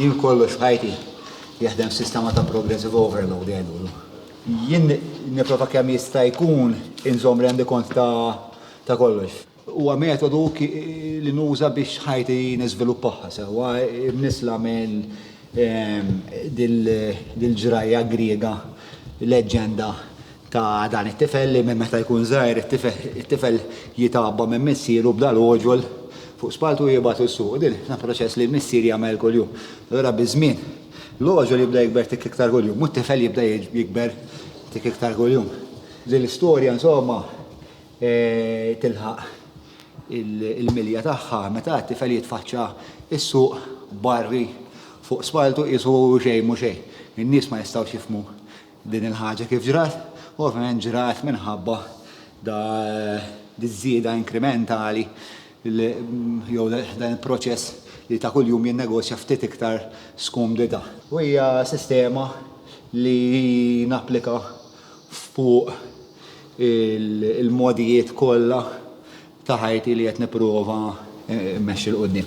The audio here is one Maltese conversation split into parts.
Jien kollox f'ħajti jaħdem sistema ta' progressive overload għedulu. Jien niprofa kemm jista' jkun inżom rendi kont ta' ta' kollox. Huwa metodu li nuża biex ħajti niżviluppaha sewwa, imnissla minn ehm, dil-ġrajja Griega, leġġenda ta' dan it-tifel li minn meta jkun żgħir it-tifel jitgħabba minn missieru b'dan l-għoġol fuq spalltu u jibgħatu s-suq. Din dan proċess li l-missier jagħmel kuljum. Allura biż-żmien l-għoġol jibda jikber tik iktar kuljum u t-tifel jibda jikber tik iktar kuljum. Din l-istorja insomma tilħaq il-milja tagħha meta t-tifel jitfaċċa s-suq barri fuq spalltu qisu xejn mhu xejn. In-nies ma jistgħux jifhmu Din il-ħaġa kif ġrat? Ovvjament ġrat minħabba da diż-żieda inkrimentali jew dan il-proċess li ta' kuljum jinnegozja ftit iktar skumdità. U hija sistema li napplika fuq il-mogħdijiet kollha ta' ħajti li qed nipprova mmexxi 'l quddiem.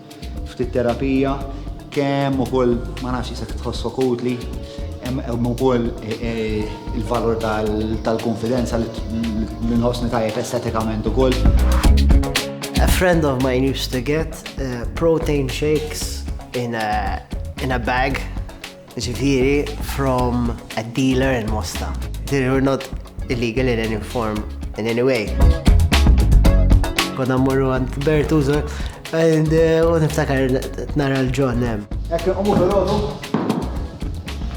Ftit terapija, kemm ukoll ma nafx isek tħossok utli, hemm ukoll il-valur tal-kunfidenza li nħossni tajjeb estetikament ukoll. A friend of mine used to get protein shakes in a in a bag. Jiġifieri from a dealer in Mosta. Jiġifieri we're not illegal in any form, in any way. Konna mmorru għand Bertuzo, and eh, u niftakar nara l-ġon hemm. Ekk nqomu fil-għodu.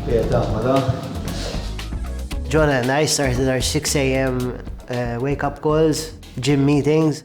Pieta, ma da. John and I started our 6 a.m. eh, wake-up calls, gym meetings.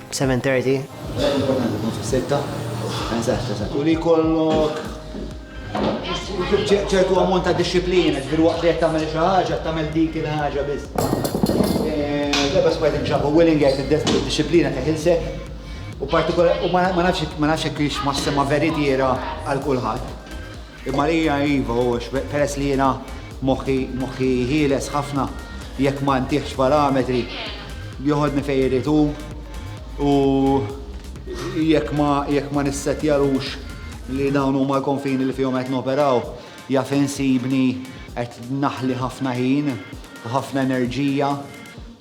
7:30. Sitta. Eżatt, eżatt. U li kollok ċertu ammont ta' disciplina, ġbir waqt li tagħmel xi ħaġa, tagħmel dik il-ħaġa biss. Debba spajt inġabu willing għajt id-disciplina ta' ħilsek. U partikolar, u ma nafx ma nafx hekk hix massima veritiera għal kulħadd. Marija, Iva, u peress li jiena moħħi, moħħi ħieles ħafna, jekk ma ntiħx parametri, joħodni fejn irid hu, u jekk ma, jekk ma nissettjalux li dawn huma l-konfini li fihom qed noperaw, jaf insibni qed naħli ħafna ħin u ħafna enerġija.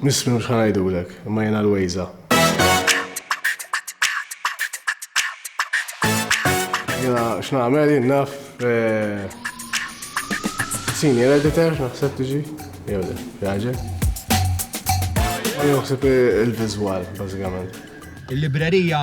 Nisfni u x'ħa ngħidulek, imma jiena l-Wejża. Jiena x'nagħmel jien naf senior editor naħseb tiġi jew le, jaġel. Naħseb il-viżwal bażikament. Il-librerija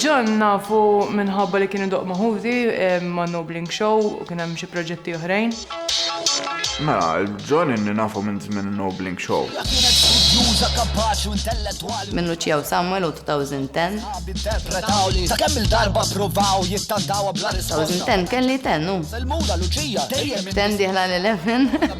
John nafu minħabba li kien idoq ma' ħuti ma' Nobling Show u kien hemm xi proġetti oħrajn. Mela, John inni nafu minn żmien Nobling Show. Juża kapaċi u intellettwali. Minn Lucia u Samuel u 2010. Interpretaw li ta' kemm il-darba provaw jittandaw bla risposta. 2010 kelli ten, u. Selmuna Lucia dejjem. Ten diħla l-11.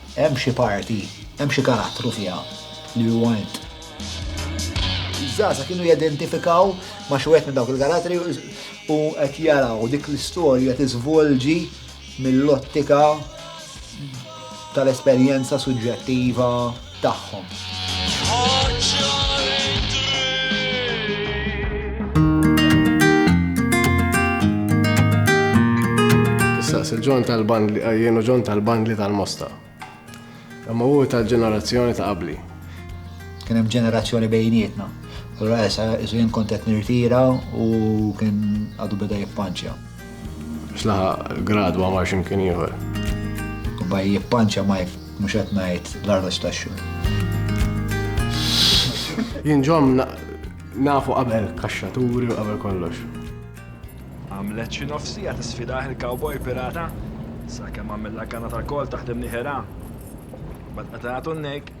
Hemm xi parti, hemm xi karattru fiha li hu int. Iż-żgħażagħ kienu jidentifikaw ma' xi wieħed minn dawk il-karattri u qed jaraw dik l-istorja tiżvolġi mill-ottika tal-esperjenza suġġettiva tagħhom. Tistaqsi l-ġon tal-bandli, eh, jenu ġon tal-bandli tal-mosta. Imma u tal-ġenerazzjoni ta' qabli. Kien hemm ġenerazzjoni bejnietna. Allura issa jien kont qed nirtira u kien għadu beda jippanċja. Slaħa gradwa ma ximkien ieħor. Kubba jippanċa ma mhux qed ngħid l-arroġ tax-xhur. Jien ġom nafu qabel kaxxaturi u qabel kollox. Għamlet xi nofsija tisfidah il-cowboy pirata, sakemm għamilla kanna tal-kol taħdem niħera. Bad qatatu n-nejk.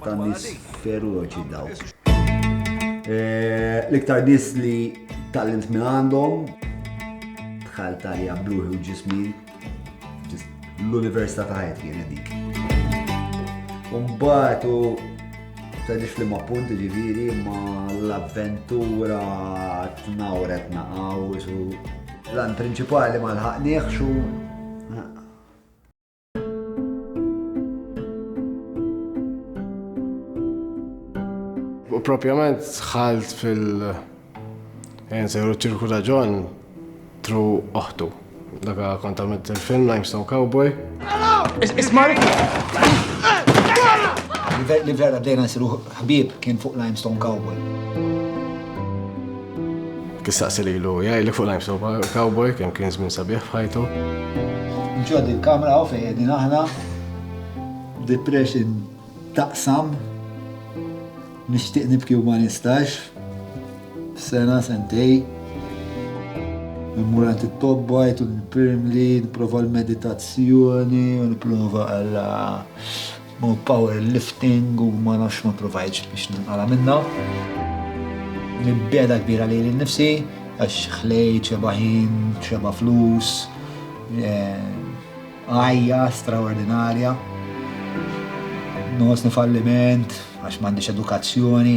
ta' nis feroċi dawk. Eh, l-iktar nis li tallimt minn għandhom, tħal talja bluħi u ġismi, l-università ta' ħajt kien dik. Umbat u tadix li ma punt ġiviri ma l-avventura t-nawret naqaw, l-għan principali ma l-ħaqniħ xu U propjament dħalt fil- Ejn sejru ċirku ta' John tru oħtu. Daga kont għamilt il-film Limestone Cowboy. Ismari! Li vera bdejna nsiru Ħbieb kien fuq Limestone Cowboy. Kif saqsi lilu, jgħidlek fuq lajm soba, cowboy kemm kien żmien sabiħ f'ħajtu. Ġod il-kamra u fejn qegħdin aħna. Depression taqsam. Nixtieq nibki u ma nistax. Sena sentej. Immur għand it-tobba, jtu l-primli, nipprova l-meditazzjoni, u nipprova għalla u power lifting u ma nafx ma provajtx biex ninqala' minnha. Mibgħeda kbira lili nnifsi għax ħlejt xeba' ħin, xeba' flus, għajja straordinarja, nħossni falliment għax m'għandix edukazzjoni.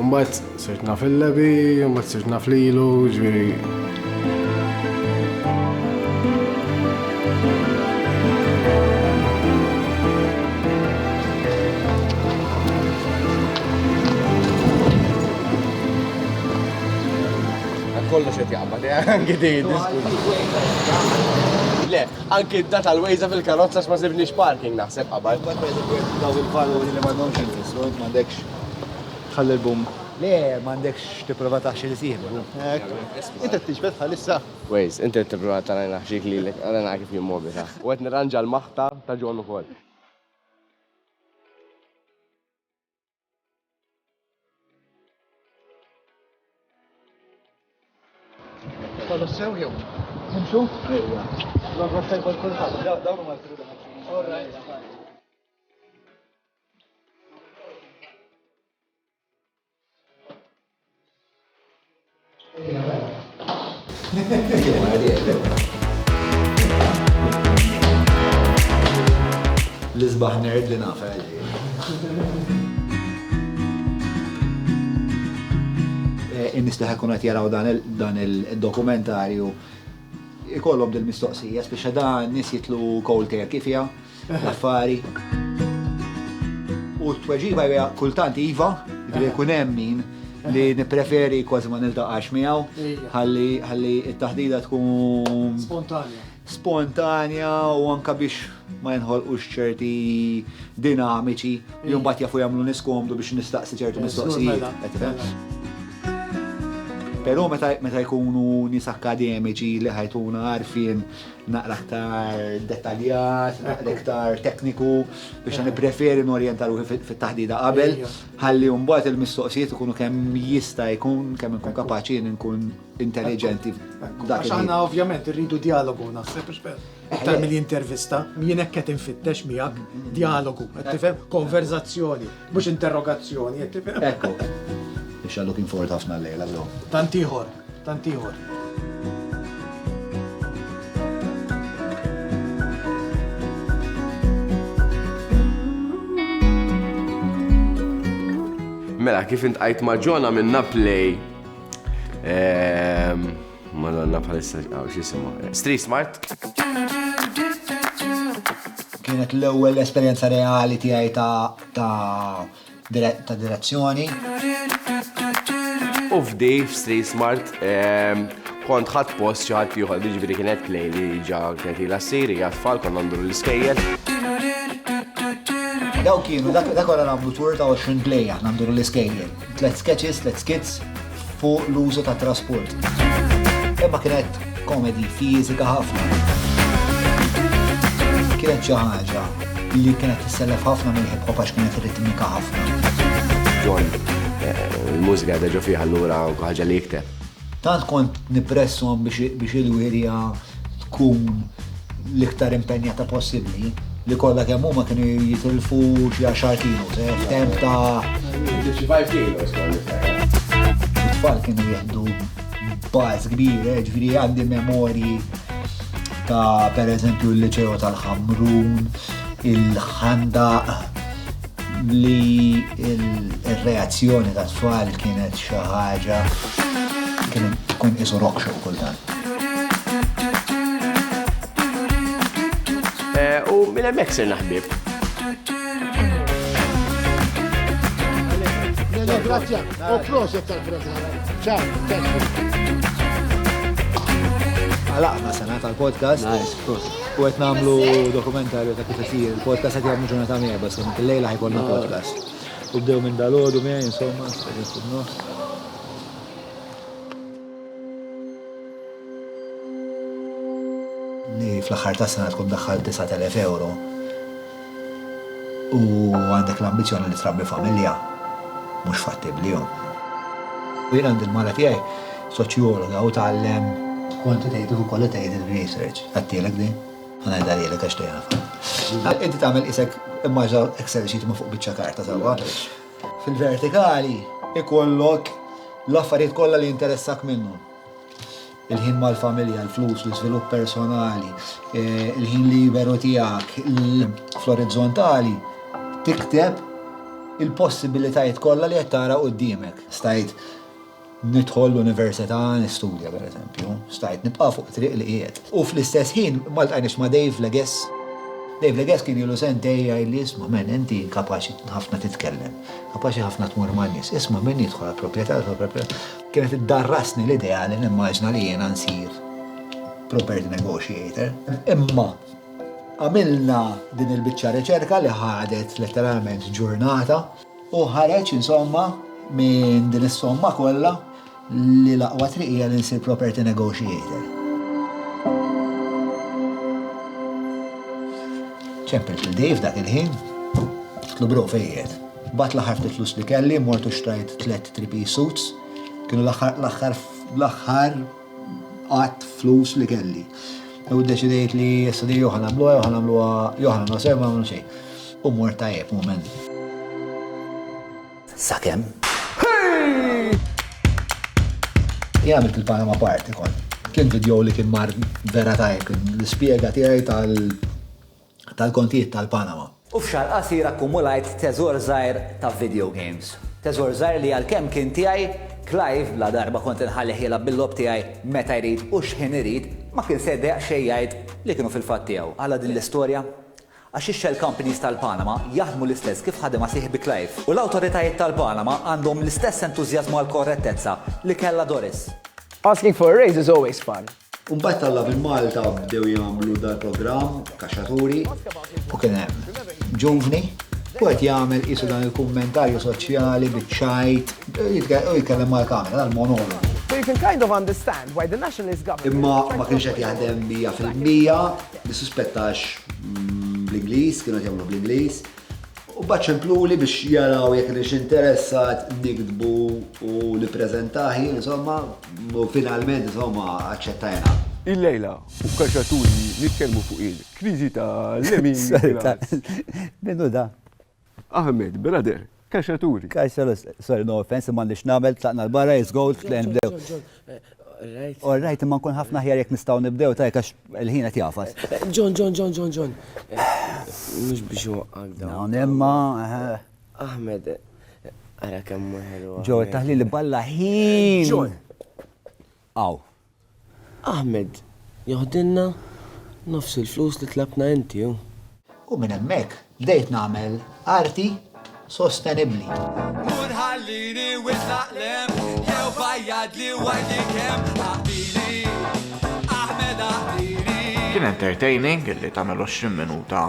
Mbagħad sirt naf il-lebi, mbagħad sirt naf lilu, ġifieri. Kollox qed jaqbad, eh, anki din Le, anki da tal-wejza fil-karozza x'ma sibniex parking naħseb qabad. Daw il-valuri li m'għandhomx il-fissur, m'għandekx Ħalli l-boom. Le, m'għandekx tipprova taħxi li sieħbu. Hekk. Int qed tiġbed bħalissa? Waze, int qed tipprova tara li naħxik lilek, ara nara kif jien mobitha. U qed nirranġa l-maħta ta' John ukoll. Kolossew jew? Nimxu? Ejja. L-għodwa tajba l-kulħadd. Dawn huma l-tribunazzjoni. All right. L-isbaħ nerd li nafa għalli. Eh, in-nis li ħakun għat jaraw dan il-dokumentarju ikollhom dil-mistoqsija, speċa da nis jitlu cold turkey fija. l-affari. U t-tweġiba hija kultant iva, jiġifieri jkun hemm min li nippreferi kważi ma niltaqax miegħu ħalli t-taħdida tkun spontanja. Spontanja u anka biex ma jinħolqux ċerti dinamiċi li mbagħad jafu jagħmlu niskomdu biex nistaqsi ċertu mistoqsijiet. Però meta jkunu nies akkademiċi li ħajtuna għarfien naqra aktar dettaljat, naqra aktar tekniku, biex għan preferi n-orienta ruħi fit-taħdida qabel, ħalli mbagħad il-mistoqsijiet ikunu kemm jista' jkun kemm nkun kapaċi nkun intelligenti. Għax aħna ovvjament irridu dialogu naħseb iktar mill-intervista, jien hekk qed infittex miegħek dialogu, qed tifhem konverzazzjoni. Mhux interrogazzjoni qed tifhem. Ekku. Biex għal looking forward ħafna l-lejla llum. Tant ieħor, tant ieħor. Mela, kif intqajt ma' Ġona minn Naplej, ehm, Madonna bħalissa għaw xisimu. Street Smart. Kienet l-ewwel esperjenza reali tiegħi ta' direzzjoni. U f'di f'Street Smart ehm, kont ħadd post xi ħadd ieħor, jiġifieri kienet play li ġa kienet ilha ssir hija tfal konna ndur l-iskejjel. Daw kienu, dak wara nagħmlu tour ta' 20 play aħna ndur l-iskejjel. Tlet sketches, tlet skits fuq l-użu ta' trasport. Imma kienet komedi fizika ħafna. Kienet xi ħaġa li kienet tissellef ħafna minn hip hop għax kienet ritmika ħafna. John, eh, il-mużika deġo fiha allura ħaġa li jikteb. Tant kont nippressahom biex il-wirja tkun l-iktar impenjata possibbli li kollha kemm huma kienu jitilfu xi għaxar kilos, eh, f'temp ta' 55 kilos kont niftakar. It-tfal kienu jieħdu bars kbir, eh, ġifieri għandi memorji ta' pereżempju l-Liċeo tal-Ħamrun, il-Ħandaq, li il-reazzjoni tat tfal kienet xi ħaġa kien tkun isu rock show kultant. Eh, u minn hemmhekk sirna ħbieb. Grazie, u proset tal-programm. Ciao, Għalaqna sena tal-podcast. Nice, proset. U qed nagħmlu dokumentarju ta' kif isir il-podcast qed jagħmlu ġurnata miegħi bas kemm il-lejla ħajkolna podcast. U bdew minn dalodu miegħi insomma, qegħdin fuq nofs. Li fl-aħħar ta' sena tkun daħħal 9000 euro u għandek l-ambizzjoni li trabbi familja, mhux fattibbli hu. U jien għandi l-mara tiegħi soċjologa u tgħallem quantitative u qualitative research. Għedtilek din? Ħa ngħidha lilek għax tgħinha. Inti tagħmel qisek immaġina Excel sheet imma fuq biċċa karta sewwa. Fil-vertikali jkollok l-affarijiet kollha li jinteressak minnhom. Il-ħin mal-familja, l-flus, l-iżvilupp personali, il-ħin liberu tiegħek, fl-orizzontali tikteb il-possibilitajiet kollha li qed tara qudiemek. Stajt nidħol l-università nistudja per eżempju, stajt nibqa' fuq triq li qiegħed. U fl-istess ħin ma ltajniex ma' Dave Legess. Dave Legess kien ilu sentej jgħid li isma' men inti kapaċi ħafna titkellem, kapaċi ħafna tmur man-nies, isma' min jidħol għall-proprjetà, Kienet iddarrasni l-idea li nimmaġina li jiena nsir property negotiator. Imma għamilna din il-biċċa riċerka li ħadet letteralment ġurnata u ħareġ insomma minn din is-somma kollha li l-aqwa triq hija li nsir property negotiator. ċempilt il-Dave dak il-ħin, tlu bro fejjed. Mbagħad l-aħħar ftit flus li kelli mort u xtrajt tliet three piece suits. Kienu l-aħħar l-aħħar l-aħħar qatt flus li kelli. U ddeċidejt li issa di jew ħa nagħmluha jew ħa nagħmluha jew ħa nagħmluha sew ma nagħmlu xejn. U mort tajjeb mument. Sakemm. Jien għamilt il-Panama Party kont. Kien video li kien mar vera tajjeb, kien l-ispjega tiegħi tal- tal-kontijiet tal-Panama. U f'xahar qasir akkumulajt teżor żgħir ta' video games. Teżor żgħir li għalkemm kien tiegħi, Clive, bla darba kont inħallih jilgħab bil-logħob tiegħi meta jrid u x'ħin irid, ma kien se jdejjaq xejn jgħid li kienu fil-fatt tiegħu. Għala din l-istorja? Għax ix-shell companies tal-Panama jaħdmu l-istess kif ħadimha sieħbi Clive. U l-awtoritajiet tal-Panama għandhom l-istess entużjażmu għall-korrettezza li kellha Doris. Asking for a raise is always fun. U mbagħad talla' minn Malta bdew jagħmlu dal-programm Kaxxaturi. U kien hemm ġuvni u qed jagħmel qisu dan il-kummentarju soċjali biċ-ċajt u jitkellem mal-kamera dan monologu. So you can kind of understand why the Nationalist Government. Imma ma kienx qed jaħdem mija fil-mija, nissuspetta għax bl-Ingliż, kienu qed jagħmlu bl-Ingliż. U mbagħad ċempluli biex jaraw jekk kienx interessat niktbu u nippreżentah jien insomma. U finalment insomma aċċettajna. Illejla u Kaxaturi nitkellmu fuq il-kriżi ta' Lemin Nicholas. Min hu dan? Ahmed, brother, Kaxaturi. Kaxaturi, sorry no offense imma m'għandix nagħmel, tlaqna l-barra, it's gold, tlejna nibdew. All right, imma nkun ħafna aħjar jekk nistgħu nibdew tajjeb għax il-ħin qed jagħfas. John, John, John, John, John. Mhux biex inwaqqgħek dawn. Dawn imma. Ahmed, ara kemm ħelu. Ġo, taħli li balla ħin. Ġo. Aw. Ahmed, joħdilna nofs il-flus li tlabna inti. U minn hemmhekk bdejt nagħmel arti sostenibbli. Mur ħallini wislaq lem, jew fajjad li wajdi kemm ħabili. Ahmed ħabili. Kien entertaining li tagħmel 20 minuta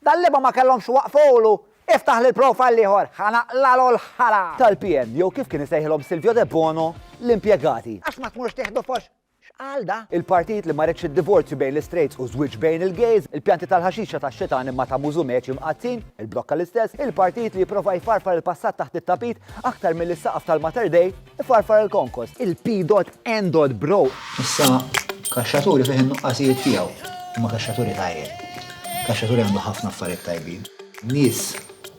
Dal-liema ma kellhomx iwaqqfulu! Iftaħ lil profile ieħor, ħa naqlalu l-ħala! Tal-PN, jew kif kien isejħilhom Silvio Debono, l-impjegati. Għax ma tmurx tieħdu fox? X'qal da? Il-partit li ma riedx id-divorzju bejn l-istrejts u żwieġ bejn il-gejs, il-pjanti tal-ħaxixa tax-xitan imma ta' Mużu Meci mqaddsin, il-blokka l-istess, il-partit li jipprova jfarfar il-passat taħt it-tapit aktar milli s-saqaf tal-Mater Dei, Ifarfar il-konkos. Il-P.N. Bro. Issa, kaxxaturi fih in-nuqqasijiet tiegħu. Imma kaxxaturi tajjeb. Kaxxaturi għandu ħafna affarijiet tajbin. Nies,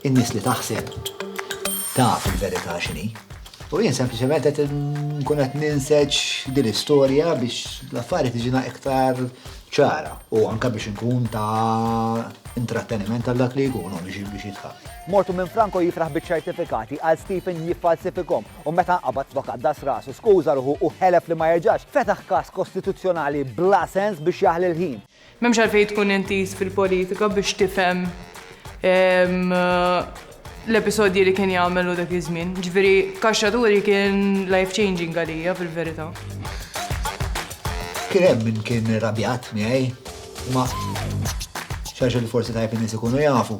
in-nies li taħseb taf il-verità x'inhi. U jien sempliċement qed nkun qed ninseġ din l-istorja biex l-affarijiet iġina iktar ċara u anke biex nkun ta' intratteniment għal dak li jkunu biex jitħaq. Mortu minn Franco jifraħ biċ-ċertifikati għal Stephen jiffalsifikhom u meta nqabad flok qaddas rasu, skuża ruħu u ħelef li ma jerġax, fetaħ każ kostituzzjonali bla sens biex jaħli l-ħin. M'hemmx għalfejn tkun intiż fil-politika biex tifhem l-episodji li kien jagħmel hu dak iż-żmien. Ġifieri kaxxa turi kien life changing għalija fil-verità. Kien hemm min kien irrabjat miegħi, ma xax li forsi tajb in-nies ikunu jafu.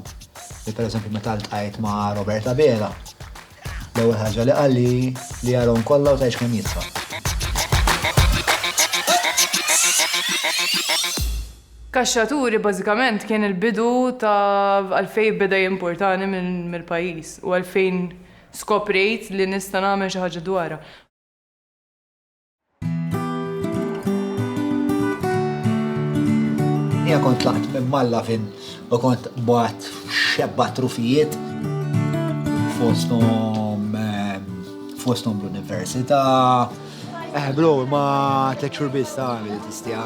Li pereżempju meta ltqajt ma' Robert Abela, l-ewwel ħaġa li qal li li jarhom kollha u tgħidx kemm jidfa'. Kaxxaturi bażikament kien il-bidu ta' għalfejn beda jimpurtani mill-pajjiż u għalfejn skoprejt li nista' nagħmel xi ħaġa dwarha. Ija kont laqt minn malla fin u kont bat xebba trufijiet fostom ehm, fostom l-università. Eh, bro, ma t-lecture biss ta' għamil tistja.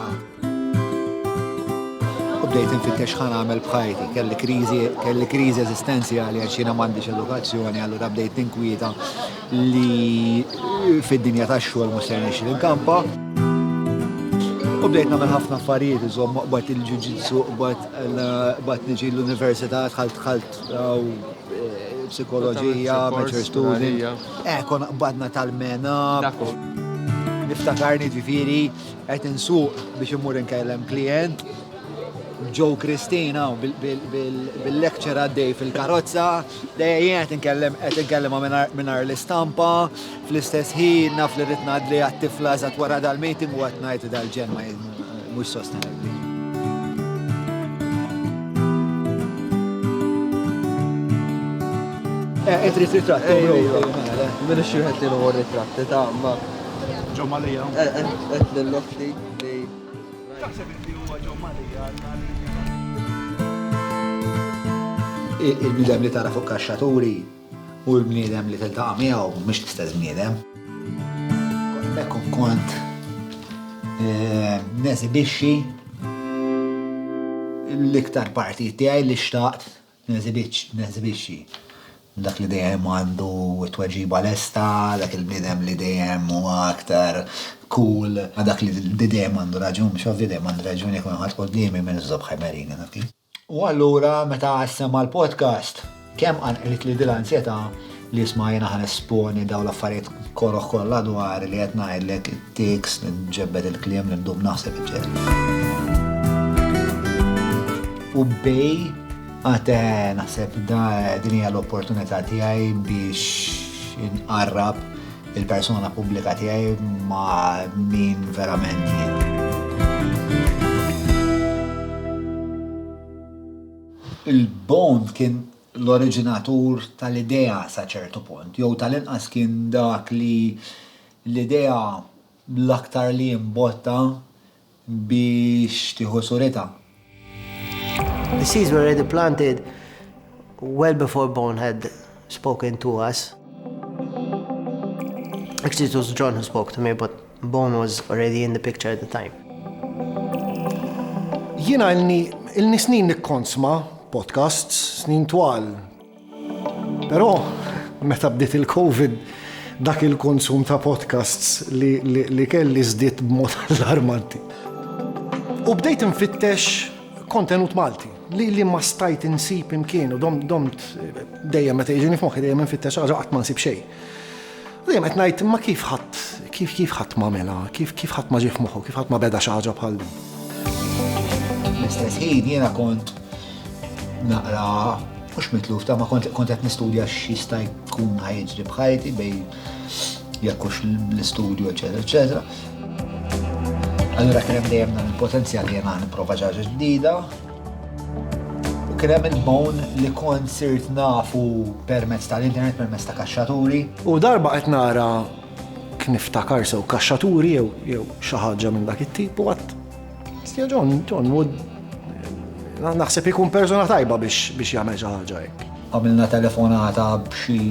U bdejt infittex ħan għamel bħajti, kelli kriżi, kelli kriżi eżistenzjali għax jiena m'għandix edukazzjoni, allura bdejt tinkwieta li fid-dinja tax-xogħol mhux se nixri l-kampa. U bdejt nagħmel ħafna affarijiet, iżomm qbad il-ġuġitsu, qbad niġi l-università, dħalt dħalt eh, psikoloġija, mature student. Eh, kon qbadna tal-mena. Niftakarni ġifiri Qed insuq biex immur inkellem klijent, Joe Christina bil-lecture għaddej fil-karozza, dejjem qed inkellem qed inkellem mingħajr l-istampa, fl-istess ħin naf li rid ngħadli għat-tifla eżatt wara dal-meeting u qed ngħid dal-ġen ma mhux sostenibbli. Qed ritratt, mela, mela xi wieħed li l-ewwel ritratt, ta' ma' John Malia. Qed lill-oħti li. Taħseb li huwa John Malia Il-bniedem li tara fuq kaxxaturi u l-bniedem li tiltaqa' miegħu mhux l-istess bniedem. Hekk kont eh, nesibixxi l-iktar partijiet tiegħi li xtaqt Neżibixxi dak li dejjem għandu t-tweġiba lesta, dak il-bniedem li dejjem huwa aktar cool, dak li dejjem għandu raġun, biex ovvju dejjem għandi raġun jekk ma ħadd quddiemi min iżżobb ħemerini dak li. U allura meta qas sema' l-podcast, kemm qanqlitli din l-ansjetà li isma' jiena ħa nesponi dawn l-affarijiet koroh kollha dwari li qed ngħidlek, it-tics, li nġebbed il-kliem, li ndum naħseb, eċċetera. U bej għad naħseb da din hija l-opportunità tiegħi biex inqarrab il-persona pubblika tiegħi ma' min verament jien. Il-Bond kien l-oriġinatur tal-idea sa ċertu punt, jew tal-inqas kien dak li l-idea l-aktar li imbotta biex tieħu suritha. The seeds were already planted well before Bone had spoken to us. Actually it was John who spoke to me but Bono was already in the picture at the time. Jiena ilni ilni snin nikkonsma podcasts, snin twal. Però meta bdiet il-Covid dak il-konsum ta' podcasts li, li, li kelli żdied b'mod allarmanti. U bdejt infittex kontenut Malti li li ma stajt insib imkien u dom domt dejjem meta jiġini f'moħħi dejjem infittex ħaġa qatt ma nsib xejn. Dejjem qed ngħid imma kif ħadd kif kif ħadd m'għamilha, kif kif ħadd ma ġie f'moħħu, kif ħadd ma beda xi ħaġa bħal din. L-istess ħin jiena kont naqra mhux mitluf ta' ma kont qed nistudja x'jista' jkun ħajġri bħajti bej jekkux l-istudju, eċetera, eċetera. Allura kien hemm dejjem dan il-potenzjal li jiena nipprova ġaġa ġdida, U kien hemm il-bone li kont sirt nafu permezz tal-internet, permezz ta' kaxxaturi. U darba qed nara kif niftakar sew kaxxaturi jew jew xi ħaġa minn dak it-tip u għad. Stja John, John Wood naħseb ikun persuna tajba biex biex jagħmel xi ħaġa hekk. Għamilna telefonata b'xi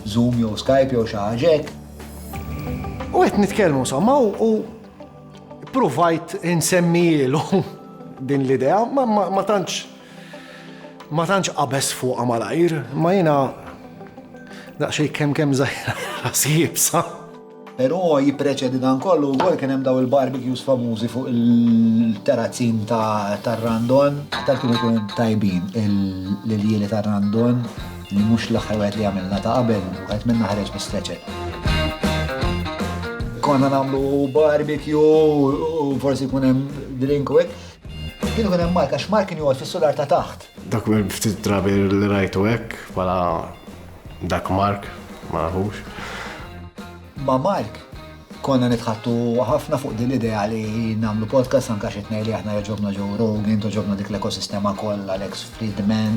Zoom jew Skype jew xi ħaġa hekk. U qed nitkellmu somma u Ppruvajt insemmijielu din l-idea, ma tantx ma tantx qabeż fuqha malajr, ma jiena daqsxejn kemm kemm żgħira ras iebsa. Però jippreċedi dan kollu wkoll kien hemm dawn il-barbecues famużi fuq il-terrazzin tar-Randon. Tant kienu jkunu tajbin l-iljieli tar-Randon. Li mhux l-aħħar wieħed li għamilna ta' qabel, wieħed minna ħareġ bi stretcher. Konna nagħmlu barbecue u forsi jkun hemm drink u hekk. Kien ikun hemm Mark għax Mark kien joqgħod fis-solar ta' taħt. Dak minn ftit drabi li rajtu hekk bħala dak Mark, ma nafux. Ma' Mark konna nitħattu ħafna fuq din l-idea li nagħmlu podcast anke xi tnejn li aħna joġobna Joe Rogan, toġobna dik l-ekosistema kollha Alex Friedman.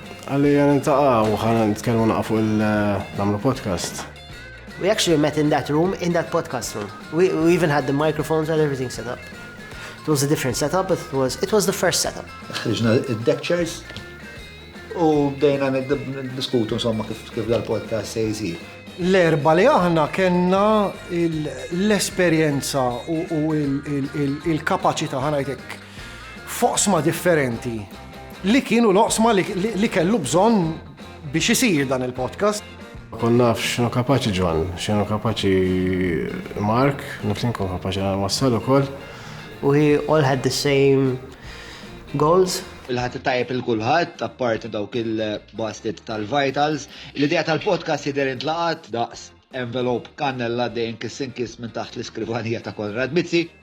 Għalli għan intaqa u għan nitkellmu naqa fuq il-namlu eh, podcast. We actually met in that room, in that podcast room. We, we even had the microphones and everything set up. It was a different setup, but it was, it was the first setup. Ħriġna id-deck chairs u bdejna diskutu insomma kif kif dal-podcast se jisir. L-erba li aħna kena l-esperienza u il-kapacita ħanajtek f'oqsma differenti li kienu l-oqsma li kellu bżonn biex isir dan il-podcast. Kon naf xinu kapaċi ġon, xinu kapaċi Mark, naf li nkun kapaċi għal wassal u koll. We all had the same goals. Il-ħat tajjeb il-kulħadd, apparti dawk il-basket tal-vitals. L-idea tal-podcast jidher intlaqat daqs envelop kannella dejn kiss in kiss minn taħt l-iskrivanija ta' Konrad Mizzi.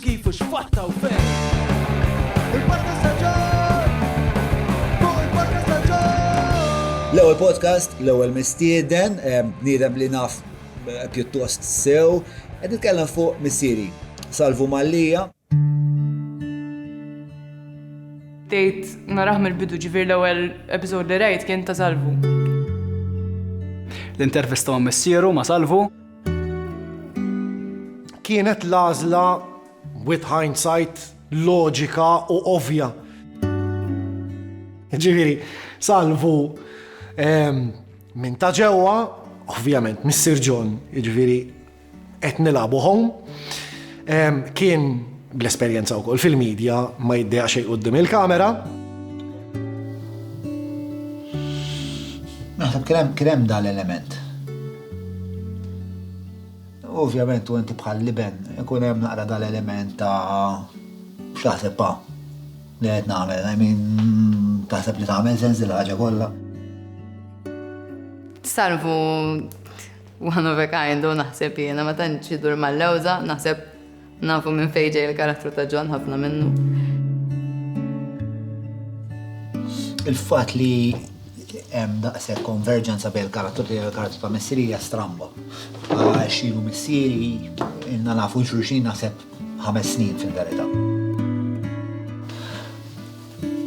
Kif u x'fatta u fejn? Il-Podcast ta' John! Fuq il-Podcast ta' John! L-ewwel podcast, l-ewwel mistieden, eh, bniedem li naf eh, pjuttost sew, qed nitkellem fuq missieri. Salvu Mallija. Tejt naraħ mill-bidu ġifir l-ewwel episod li rajt kien ta' salvu. L-intervista ma' missieru ma' salvu. Kienet l-għażla, with hindsight, loġika u ovvja. Ġifieri, salvu ehm, minn ta' ġewwa, ovvjament, Mr. John, ġifieri qed nilagħbu home, ehm, kien bl-esperjenza wkoll fil-medja ma jiddejja xejn qudiem il-kamera. Naħseb kien hemm dal-element Ovvjament u inti bħal liben ikun hemm naqra dal-element ta' x'taħseb pa' li qed nagħmel, I mean taħseb li tagħmel sens il-ħaġa kollha. Salvu one of a kind u naħseb jiena ma tantx idur mal-lewża, naħseb Nafu minn fejn ġej il-karattru ta' John, ħafna minnu. Il-fatt li hemm daqshekk konverġenza bejn il-karattru tiegħi u l-karattru ta' missieri hija stramba. Għax ilu missieri inna nafu xulxin naħseb ħames snin fil-verità.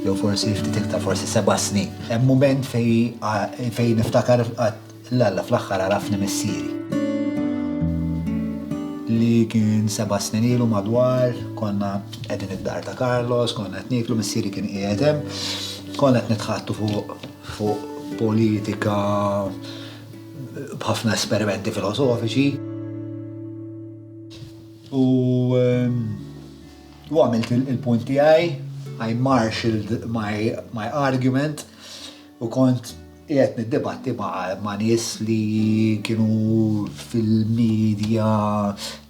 Jew forsi ftit iktar, forsi seba' snin. Hemm mument fejn niftakar L-Alla fl-aħħar għarafni missieri. Li kien seba' snin ilu madwar, konna qegħdin id-dar ta' Carlos, konna qed nieklu, missieri kien qiegħed hemm, konna qed nitħaddtu fuq fuq politika b'ħafna esperimenti filosofiċi. U u għamilt il-punt tiegħi, I marshalled my argument, U kont qiegħed niddibatti ma' nies li kienu fil-media,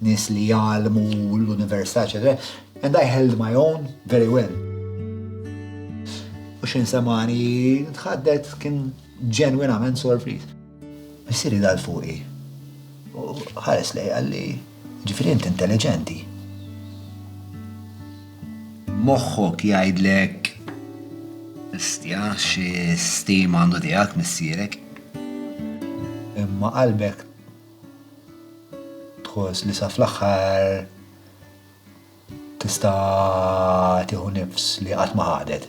nies li jgħallmu l-università, eċetera, and I held my own very well. U xin semani tħaddet kien ġenwinament sorpriż. Missieri dal fuqi. U ħares lej għalli. Ġifieri int intelliġenti. Moħħok jgħidlek Bestja, xi stima għandu tiegħek missierek. Imma qalbek tħoss li sa fl-aħħar. Tista' tieħu nifs li qatt ma ħadet.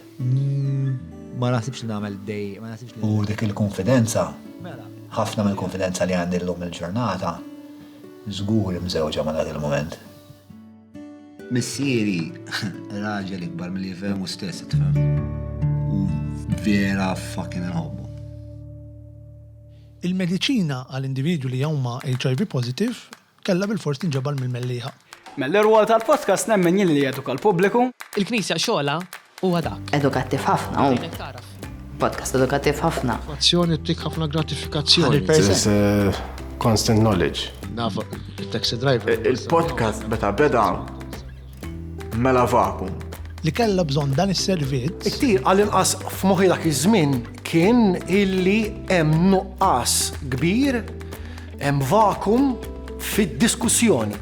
Ma naħsibx li nagħmel dej, ma naħsibx li. U dik il-kunfidenza, mela. ħafna mill-kunfidenza li għandi llum il-ġurnata, żgur mżewġa ma' dak il-mument. Missieri, raġel ikbar milli jifhem hu stess, tifhem. U vera fucking inħobbu. Il-mediċina għal individwi li huma HIV positive Kellha bilfors tinġabar mill-mellieħa. Mill-irwol tal-podcast nemmen jien li jeduka l-pubbliku. Il-Knisja xogħolha huwa dak. Edukattiv ħafna hu. Tgħinek tagħraf. Podcast edukattiv ħafna. Azzjoni ttik ħafna gratifikazzjoni. There is a constant knowledge. Naf it-taxi driver. Il-podcast meta beda. Mela vakum. Li kellha bżonn dan is-servizz. Iktir għall-inqas f'moħħi dak iż-żmien kien illi hemm nuqqas kbir, hemm vakum fid-diskussjoni.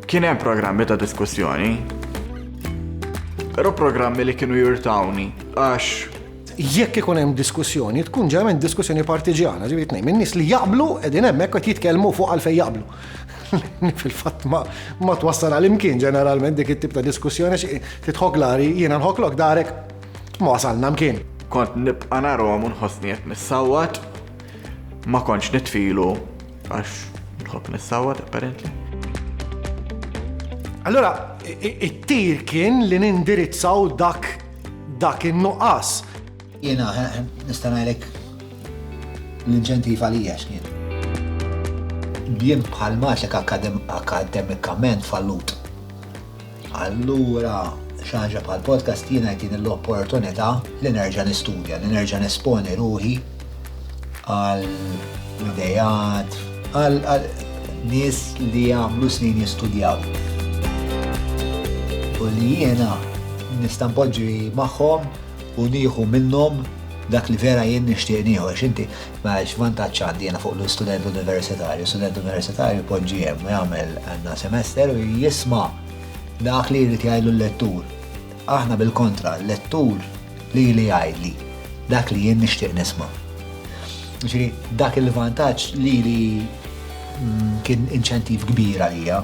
Kien hemm programmi ta' diskussjoni, però programmi li kienu jirtawni għax jekk ikun hemm diskussjoni, tkun ġeneralment diskussjoni partiġjana, ġifieri tnejn minn nies li jaqblu qegħdin hemmhekk qed jitkellmu fuq għalfejn jaqblu. Fil-fatt ma twassal għal imkien ġeneralment dik it-tip ta' diskussjoni xi titħok l-għari jiena nħoklok darek ma wasalna mkien. Kont nibqa' narhom u nħossni qed nissawwat, ma kontx nitfilu għax nħobb nissawwat apparently. Allura, it-tir kien li nindirizzaw dak dak in-nuqqas. Jiena nista' ngħidlek l-inċentiv għalija x'kien. Jien bħal matek akademikament fallut. Allura xi ħaġa bħal podcast jiena jtini l-opportunità li nerġa' nistudja, li nerġa' nesponi ruħi għal idejat, għal nies li għamlu snin jistudjaw. U li jiena nista' npoġġi magħhom u nieħu minnhom dak li vera jien nixtieq nieħu għax inti ma x'vantaġġ għandi jiena fuq l-student universitarju. Student universitarju jpoġġi hemm jagħmel għandna semester u jisma' dak li jrid jgħidlu l-lettur. Aħna bil-kontra, l-lettur li li jgħidli dak li jien nixtieq nisma'. Ġifieri dak il-vantaġġ li li mm, kien inċentiv kbir għalija.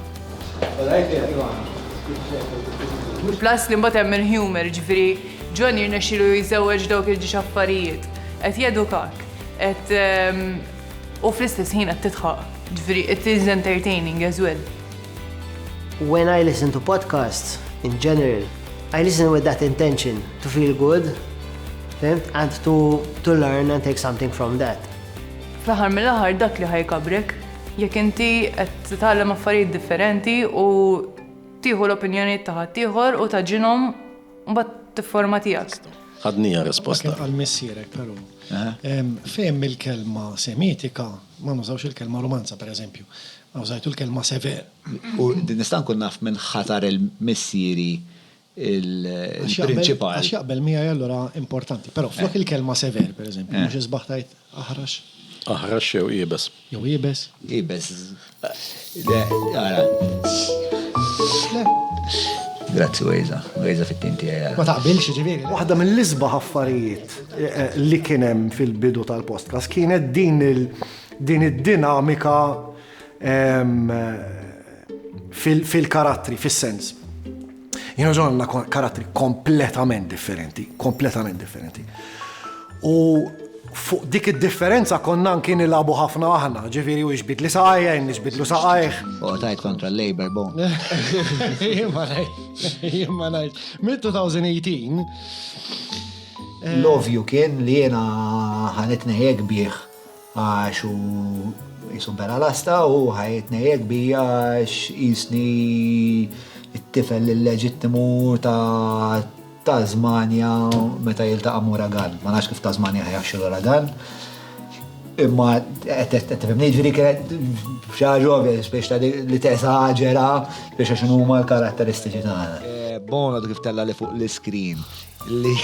Plus li mbagħad hemm il-humor, ġifieri John jirnexxilu jżewweġ dawk il-ġiex affarijiet. Qed jedukak. Qed u fl-istess ħin qed tidħaq. Ġifieri it is entertaining as well. When I listen to podcasts in general, I listen with that intention to feel good, fehmt, and to to learn and take something from that. Fl-aħħar mill-aħħar dak li ħajkabrek jekk inti qed titgħallem affarijiet differenti u tieħu l-opinjonijiet ta' ħaddieħor u taġinhom u mbagħad tifforma tiegħek. Għadnija risposta. Dak li qal missierek però. Fehim il-kelma Semitika ma nużawx il-kelma Rumanza pereżempju. Użajtu l-kelma Sever. U nista' nkun naf minn ħatar missieri l-prinċipal? Għax jaqbel miegħi allura importanti. Però flok il-kelma Sever pereżempju, mhux isbaħ tgħid Aħrax. Aħrax jew iebes. Jew iebes. Iebes. Le, ara. Le. Grazzi Wejza, Wejza fit-tim tiegħi. Ma taqbilx ġifieri. Waħda mill-isbaħ affarijiet eh, eh, li kien hemm fil-bidu tal-postkas kienet din il- din id-dinamika ehm, fil-karattri, fil-sens. Jien u John għandna karattri kompletament differenti, kompletament differenti. U fuq dik id-differenza konna anki nilabu ħafna aħna, ġifiri u iġbid li saqajja, iġbid lu saqajħ. U għatajt kontra l-Labor bon. Jimma najt, jimma najt. Mid 2018. Love you kien li jena ħanitni jek bieħ. Għax hu qisu bela lasta u ħa jitnejjek bija għax qisni t-tifel illeġittimu ta' Tasmania meta jiltaqa' ma' uragan. Ma nafx kif Tasmania ħa jaħxi l-uragan. Imma qed tifhimni jiġri kienet xi ħaġa ovvja biex ta' li tesaġera biex għax huma l-karatteristiċi tagħna. Bono kif tella' li fuq l-iskrin. li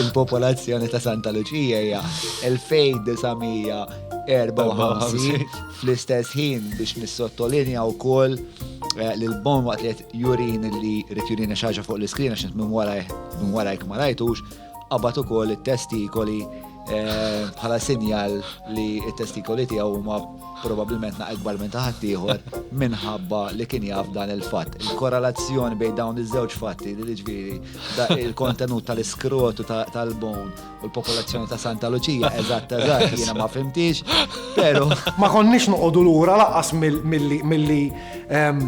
l-popolazzjoni ta' Santa Luċija hija 2954 fl-istess ħin biex nissottolinja wkoll eh, li l-bon waqt li jurin li rrid jurin xaġa fuq l-iskrin għax minn warajk ma rajtux, qabad ukoll it-testikoli bħala sinjal li t-testikoli tiegħu huma probabilment naqed bar minn taħat ieħor minħabba li kien jaf dan il-fatt. Il-korrelazzjoni bejn dawn iż-żewġ fatti li ġifieri il-kontenut tal-iskrotu tal-bone u l-popolazzjoni ta' Santa Luċija eżatt eżatt jiena ma fimtix, però ma konniex noqogħdu lura laqas milli ehm,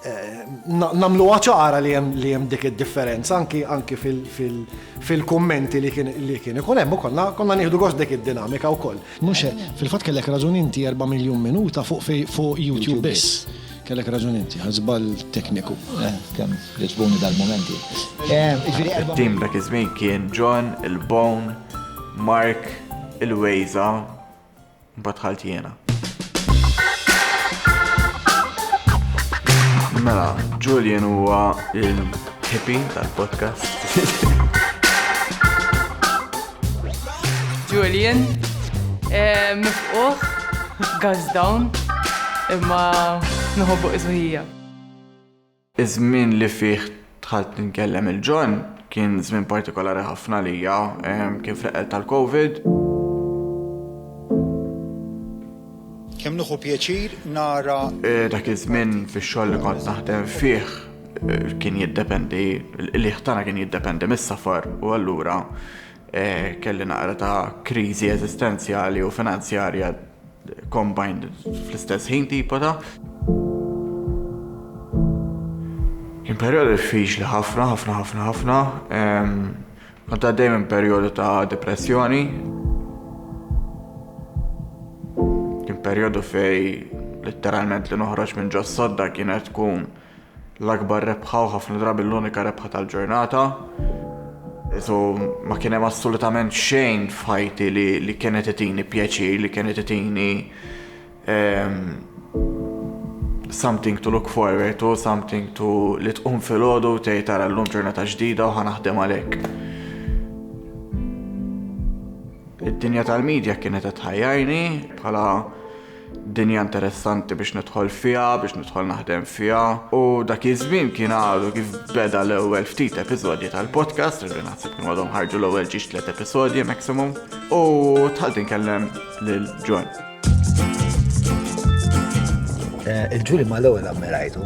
Nagħmluha ċara li hemm dik id-differenza anki fil-kummenti li kien ikun hemm u konna nieħdu gost b'dik id-dinamika wkoll. Mhux hekk, fil-fatt kellek raġun inti erba' miljun minuta fuq YouTube biss. Kellek raġun inti, għal żball tekniku. Kemm jogħġbuni dal-mumenti. It-tim dak iż-żmien kien John, il-Bone, Mark, il-Wejża, Mbagħad dħalt jiena. Mela, Julian huwa il-hippie tal-podcast. Julian, eh, mifquħ, gazdawn, imma nħobbu iżuħija. Iż-żmien li fih dħalt nkellem il-John kien żmien partikolari ħafna għalija, kien fl-eqqel tal-Covid. Kemm nieħu pjaċir nara. Dak iż-żmien fix-xogħol li kont naħdem fih kien jiddependi, il-qligħ tagħna kien jiddependi mis-safar u allura kelli naqra ta' kriżi eżistenzjali u finanzjarja. Combined fl-istess ħin tipo ta' Kien perjodu diffiċli ħafna, ħafna, ħafna, ħafna. Kont għaddej minn perjodu ta' depressjoni. Kien perjodu fej letteralment li noħroġ minn ġos sodda kienet tkun l-akbar rebħa u ħafna drabi l-unika rebħa tal-ġurnata. So, ma kien hemm assolutament xejn f'ħajti li, li kienet itini pjaċir, li kienet itini um, something to look forward to, something to li tqum fil-ħodu tgħid tara llum ġurnata ġdida u ħanaħdem għalhekk. Id-dinja tal-medja kienet qed tħajjarni bħala Dinja interessanti biex nidħol fiha, biex nidħol naħdem fiha. U dak iż-żmien kien għadu kif beda l-ewwel ftit episodji tal-podcast, irri naħseb kien għadhom ħarġu l-ewwel ġiex tliet episodji maximum, u tħalti nkellem lil John. Eh, Il-ġuri ma l-ewwel ammerajtu,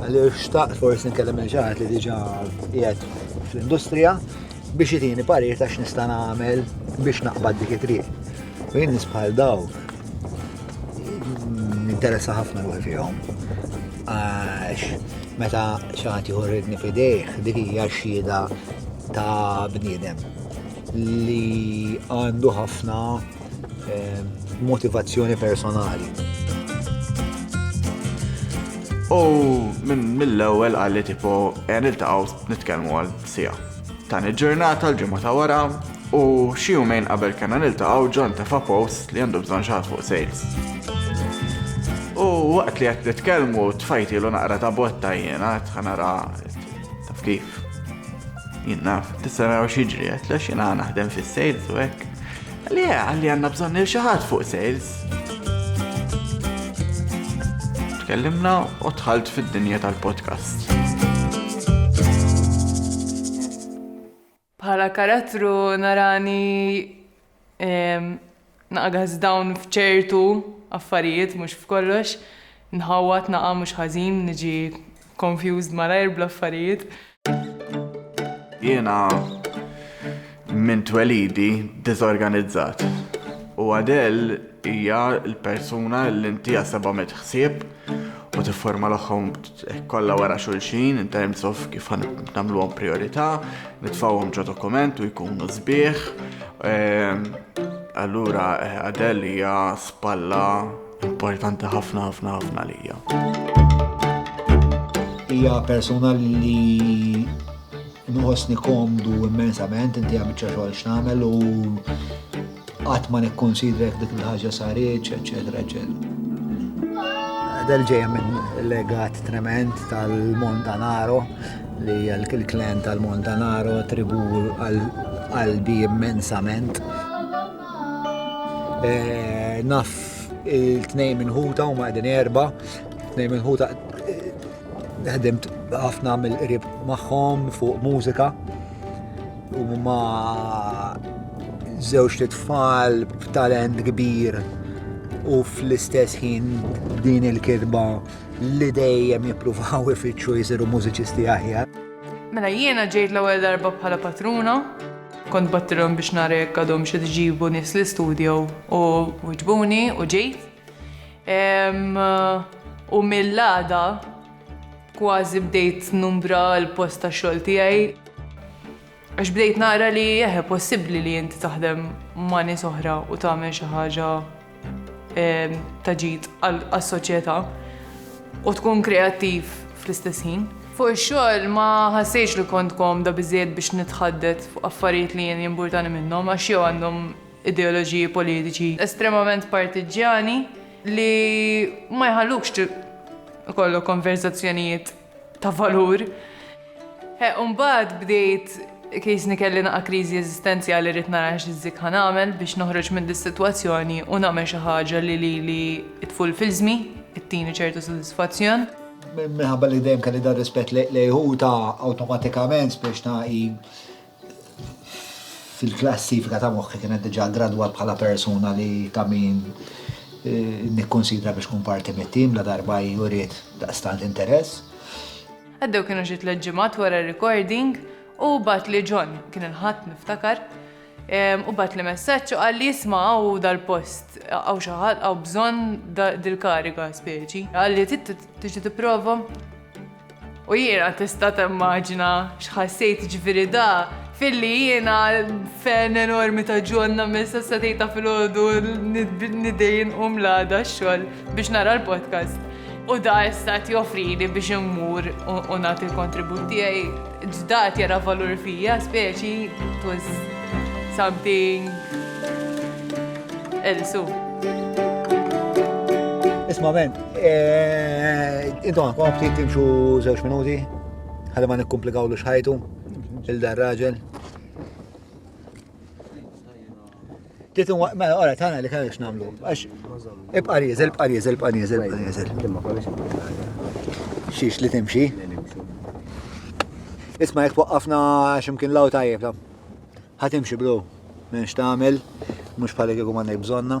Għalli xtaqt forsi nkellem il ġaħat li diġa qiegħed fl-industrija biex jitini parir ta' x'nista' nagħmel biex naqbad dik it-triq. U jien nisbħal daw ninteressa ħafna ruħi fihom. Għax meta ċaħat jħorridni fidejh dik hija xhieda ta' bniedem li għandu ħafna Motivazzjoni personali. U minn mill-ewwel għalli tipo e niltaqgħu nitkellmu għal sija. Tani ġurnata l-ġimgħa ta' wara u xi jumejn qabel kellna niltaqgħu ġon tefa' post li għandu bżonn xaħat fuq sales. U waqt li qed nitkellmu tfajti l naqra ta' botta jiena tħanara taf kif. Jien naf, tista' naraw xi ġri qed naħdem fis-sales u hekk. Le, għalli għanna bżonn il xaħat fuq sales. Tkellimna u tħalt fid-dinja tal-podcast. Bħala karattru narani naqgħaz dawn fċertu affarijiet mhux f'kollox, nħawat naqa' mhux ħażin niġi Confused malajr bl-affarijiet. Jiena minn twelidi diżorganizzat. U Adele hija l-persuna li inti jaħsebha mit ħsieb u tifforma l-oħħom kollha wara xulxin in terms of kif nagħmluhom priorità, nitfgħuhom ġo dokument u jkunu sbieħ. Ehm, allura eh, Adele hija spalla Importanti ħafna ħafna ħafna lija. Hija persuna li nħossni komdu immensament, inti għamilċa xogħol x'nagħmel u qatt ma nikkonsidrek dik il-ħaġa saritx, eċetera, eċetera. Del ġejja minn legat trement tal-Montanaro li l-klen tal-Montanaro tribu għalbi immensament. Eh, naf il-tnejn minn ħuta u maqdin erba, tnejn minn ħuta eh, ħdimt ħafna mill-qrib magħhom fuq mużika u ma żewġ tfal b'talent kbir u fl-istess ħin din il-kirba li dejjem jippruvaw ifittxu jisiru mużiċisti aħjar. Mela jiena ġejt l-ewwel darba bħala patruna, kont battilhom biex nara jekk għadhom xi ġibu nies li studjaw u wiġbuni u ġejt. U mill-għada kważi bdejt numbra l-post ta' xogħol tiegħi. Għax bdejt nara li eħe possibbli li inti taħdem ma' nies oħra u tagħmel xi ħaġa ta' ġid għas-soċjetà u tkun kreattiv fl-istess ħin. Fuq ix-xogħol ma ħassejtx li kont komda biżejjed biex nitħaddet fuq affarijiet li jien jimburtani minnhom għax jew għandhom ideoloġiji politiċi estremament partiġġjani li ma jħallukx ikollok konverżazzjonijiet ta' valur. Umbagħad bdejt kisni kelli naqa' kriżi eżistenzjali rrid nara x'żikk ħa nagħmel biex noħroġ minn dis-sitwazzjoni u nagħmel xi ħaġa li lili t-tful f'ilsmi, ittini ċertu sodisfazzjon. Minħabba li dejjem kelli dar-rispett lejh hu ta awtomatikament spiċċ ta hi Fil-klassifika ta' moħħi kienet diġà gradwat bħala persuna li ta' min eh, nikkonsidra biex kun parti mit-tim la darba juriet daqstant interess. Għaddew kienu xi tliet ġimgħat wara recording u bat li John kien il-ħadd niftakar u bat li messaġġ u qal li jisma' hawn dal-post hawn xi ħadd hawn bżonn dil-kariga speċi. Qal li tiġi tipprova U jiena tista' temmaġina x'ħassejt ġifieri da filli jiena fen enormi ta' ġonna minn sessa tejta fil-ħodu nidejn u mlada xogħol biex nara l-podcast. U da issa joffrini biex immur u nagħti l-kontribut tiegħi. Ġdad jara valur fija, speċi it was something elsu. Isma' men, eh, intom għakom ftit timxu żewġ minuti, ħalli ma nikkomplikaw l xħajtu, il-dar raġel. Titun waqt, mela, għara, tana li kellix namlu. Għax, ibqa rieżel, ibqa rieżel, ibqa rieżel, ibqa rieżel. Imma kollha xi Xiex li timxi. Isma jek waqqafna ximkien law tajjeb ta. Ħatimxi bro, minn xtamel, mux bħalek jgħu mandek bżonna.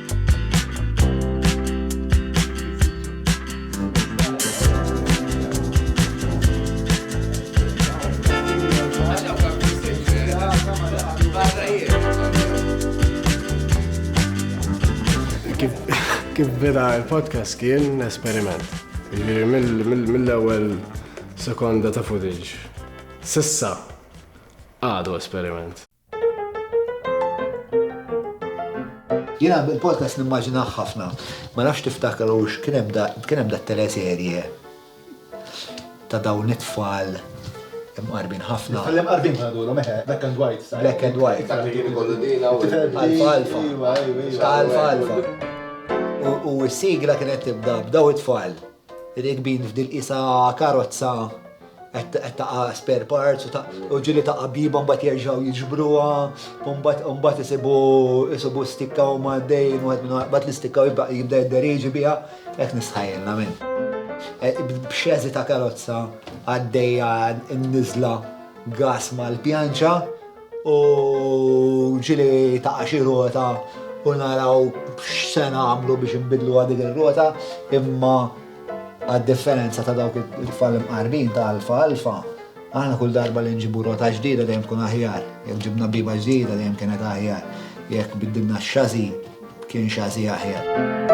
Kif beda il-podcast kien esperiment. Ġiri mill-ewwel sekonda ta' footage. Sissa għadu esperiment. Jiena il-podcast nimmaġinah ħafna. Ma nafx tiftakrux kien hemm da kien hemm da teleserje ta' dawn it-tfal imqarbin ħafna. Tfal imqarbin ma jgħidulhom eħe, black and white. sa- Black and white. Dak li kien ikollu dina u Tifel Alfa, b'din, alfa. iwa, iwa, iwa. Ta' alfa, alfa. U- U s-sigla kienet tibda b'daw it-tfal. Rikbin f'dil-qisha karozza qed taqa' spare parts u ġieli taqa' biba mbagħad jerġgħu jiġbruha u mbagħad isibu isibu stikka u maddejn u mbagħad l-istikka jibda jibda jidderiġi biha hekk nistħajjilna min. B'xeżi ta' karozza għaddejja n-niżla gas mal-pjanċa. U ġieli taqa' xi rota u naraw x'se nagħmlu biex inbiddluha dik ir-rota, imma għad-differenza ta' dawk it-tfal imqarbin ta' Alfa Alfa, aħna kull darba li nġibu rota ġdida dejjem tkun aħjar, jekk ġibna biba ġdida dejjem kienet aħjar, jekk biddilna x-xażi kien xażi aħjar.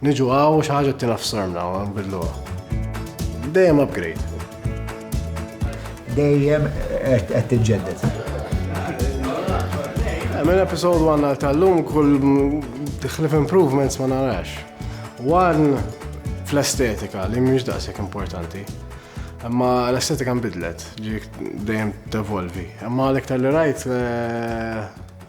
Niġu għaw u xaħġa t-tina f'sormna u nbidluha. Dejjem upgrade. Dejjem qed tiġġedded. Minn episode 1 għal tal-lum kull tħlif improvements ma narax. One fl-estetika li mhix daqshekk importanti. Imma l-estetika nbidlet, ġik dejjem tevolvi. Imma l-iktar li rajt eh,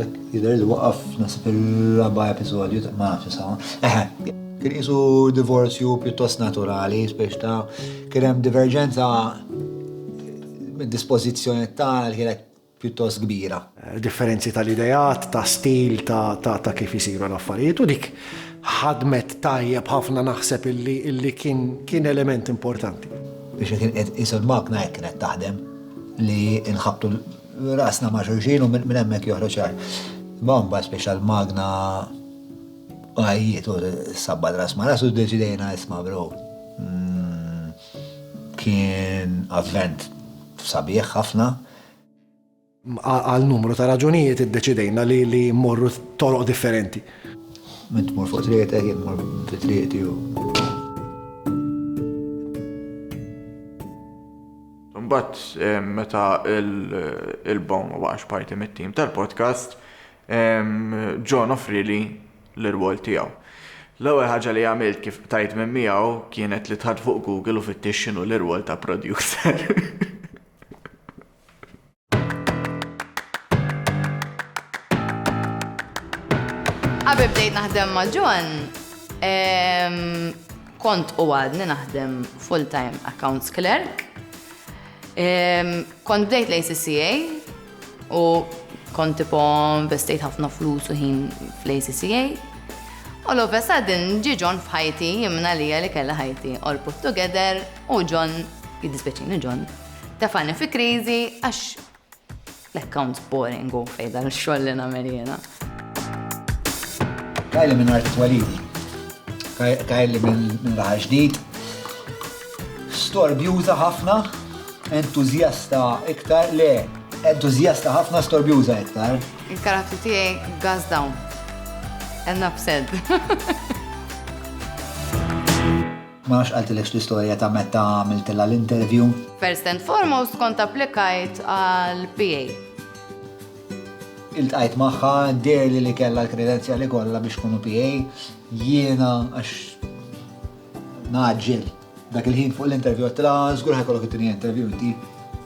Dak jidher li waqaf naħseb il-raba' episodju ma nafx isawa. Eħe. Kien isu divorzju pjuttost naturali, spiex ta' kien hemm diverġenza mid-dispożizzjoni ta' li kienet pjuttost kbira. Differenzi tal-ideat, ta' stil, ta' kif isiru l-affarijiet u dik ħadmet tajjeb ħafna naħseb illi kien element importanti. Biex kien qed isu l-makna hekk kienet taħdem li nħabbtu rasna ma' xulxin u minn hemmhekk joħroġ ċar. Ma' mbagħad speċjal magna għajjiet u sabba ras ma' rasu deċidejna isma' bro. Mm, kien avvent sabiħ ħafna. Għal numru ta' raġunijiet iddeċidejna li li morru toroq differenti. Mint mor fuq triqtek, jien mor fi triqti u. Imbagħad meta l-Bone ma baqax parti mit-tim tal-podcast, John offrieli l-irwol tiegħu. L-ewwel ħaġa li għamilt kif qtajt minn miegħu kienet li dħalt fuq Google u fittixt x'inhu l-irwol ta' producer. Qabel bdejt naħdem ma' John, kont u għadni naħdem full-time accounts clerk. Kont bdejt l-ACCA u kont tipo investejt ħafna flus u ħin fl-ACCA. U l sadin ġi John f'ħajti jimna li li kella ħajti all put together u John, jiddispeċini John, Tafani fi kriżi għax l-accounts boring u fejda l-xoll li nagħmel jiena. Kajli minn art twalidi. Kajli minn raħal ġdid. Storbjuża ħafna, entuzjasta iktar, le, entuzjasta ħafna storbjuża iktar. Il-karattru tiegħi gas down. And upset. Ma nafx qaltilekx l-istorja ta' meta għamiltilha l-interview. First and foremost kont applikajt għal PA. Iltqajt magħha, deherli li kellha l-kredenzjali kollha biex tkun PA, jiena għax ngħaġġel. Dak il-ħin fuq l-interview għedtilha żgur ħajkollok it-tieni interview inti.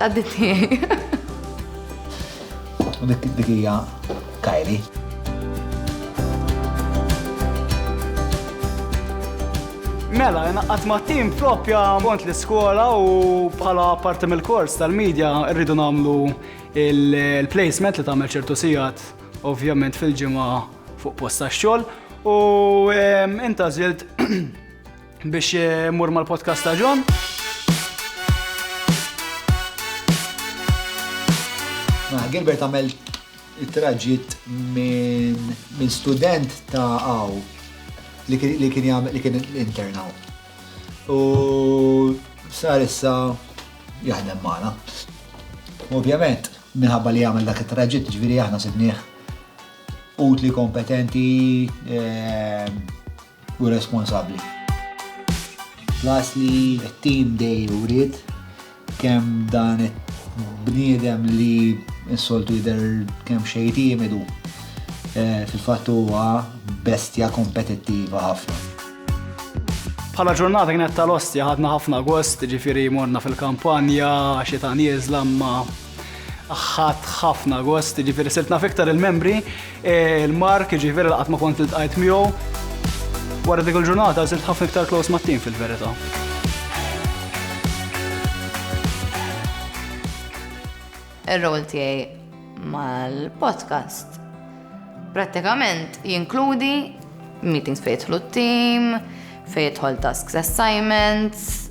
Għadditni. Dik hija Kylie. Mela, jena għatma tim propja kont l-iskola u bħala parti mill-kors tal-medja rridu namlu il-placement li tagħmel ċertu sigħat ovvjament fil-ġimgħa fuq posta xogħol u inta żilt Biex eh, mur mal-podcast ta' John. Ma, Gilbert għamel traġit minn student ta' għaw li kien jgħamil li kien internaw. U sar issa jaħdem maħna. Ovvjament, minħabba li għamil dak it-traġit, ġviri aħna sidniħ utli kompetenti, eh, u responsabbli. Plus li t-team dej uriet kemm dan bniedem li s-soltu jidher kemm xejn timidu eh, fil-fatt huwa bestja kompetittiva ħafna. Bħala ġurnata kienet tal-ostja ħadna ħafna gost, ġifiri morna fil-kampanja, xita nieżla ma ħadd ħafna gost, ġifiri sirt naf iktar il-membri, eh, il-Mark, ġifiri laqat ma kont il-tqajt miegħu. Wara dik il-ġurnata sirt ħafna iktar close ma' tim fil-verità. Ir-rol tiegħi mal-podcast prattikament jinkludi meetings fejtħlu t-tim, fejtħol tasks assignments,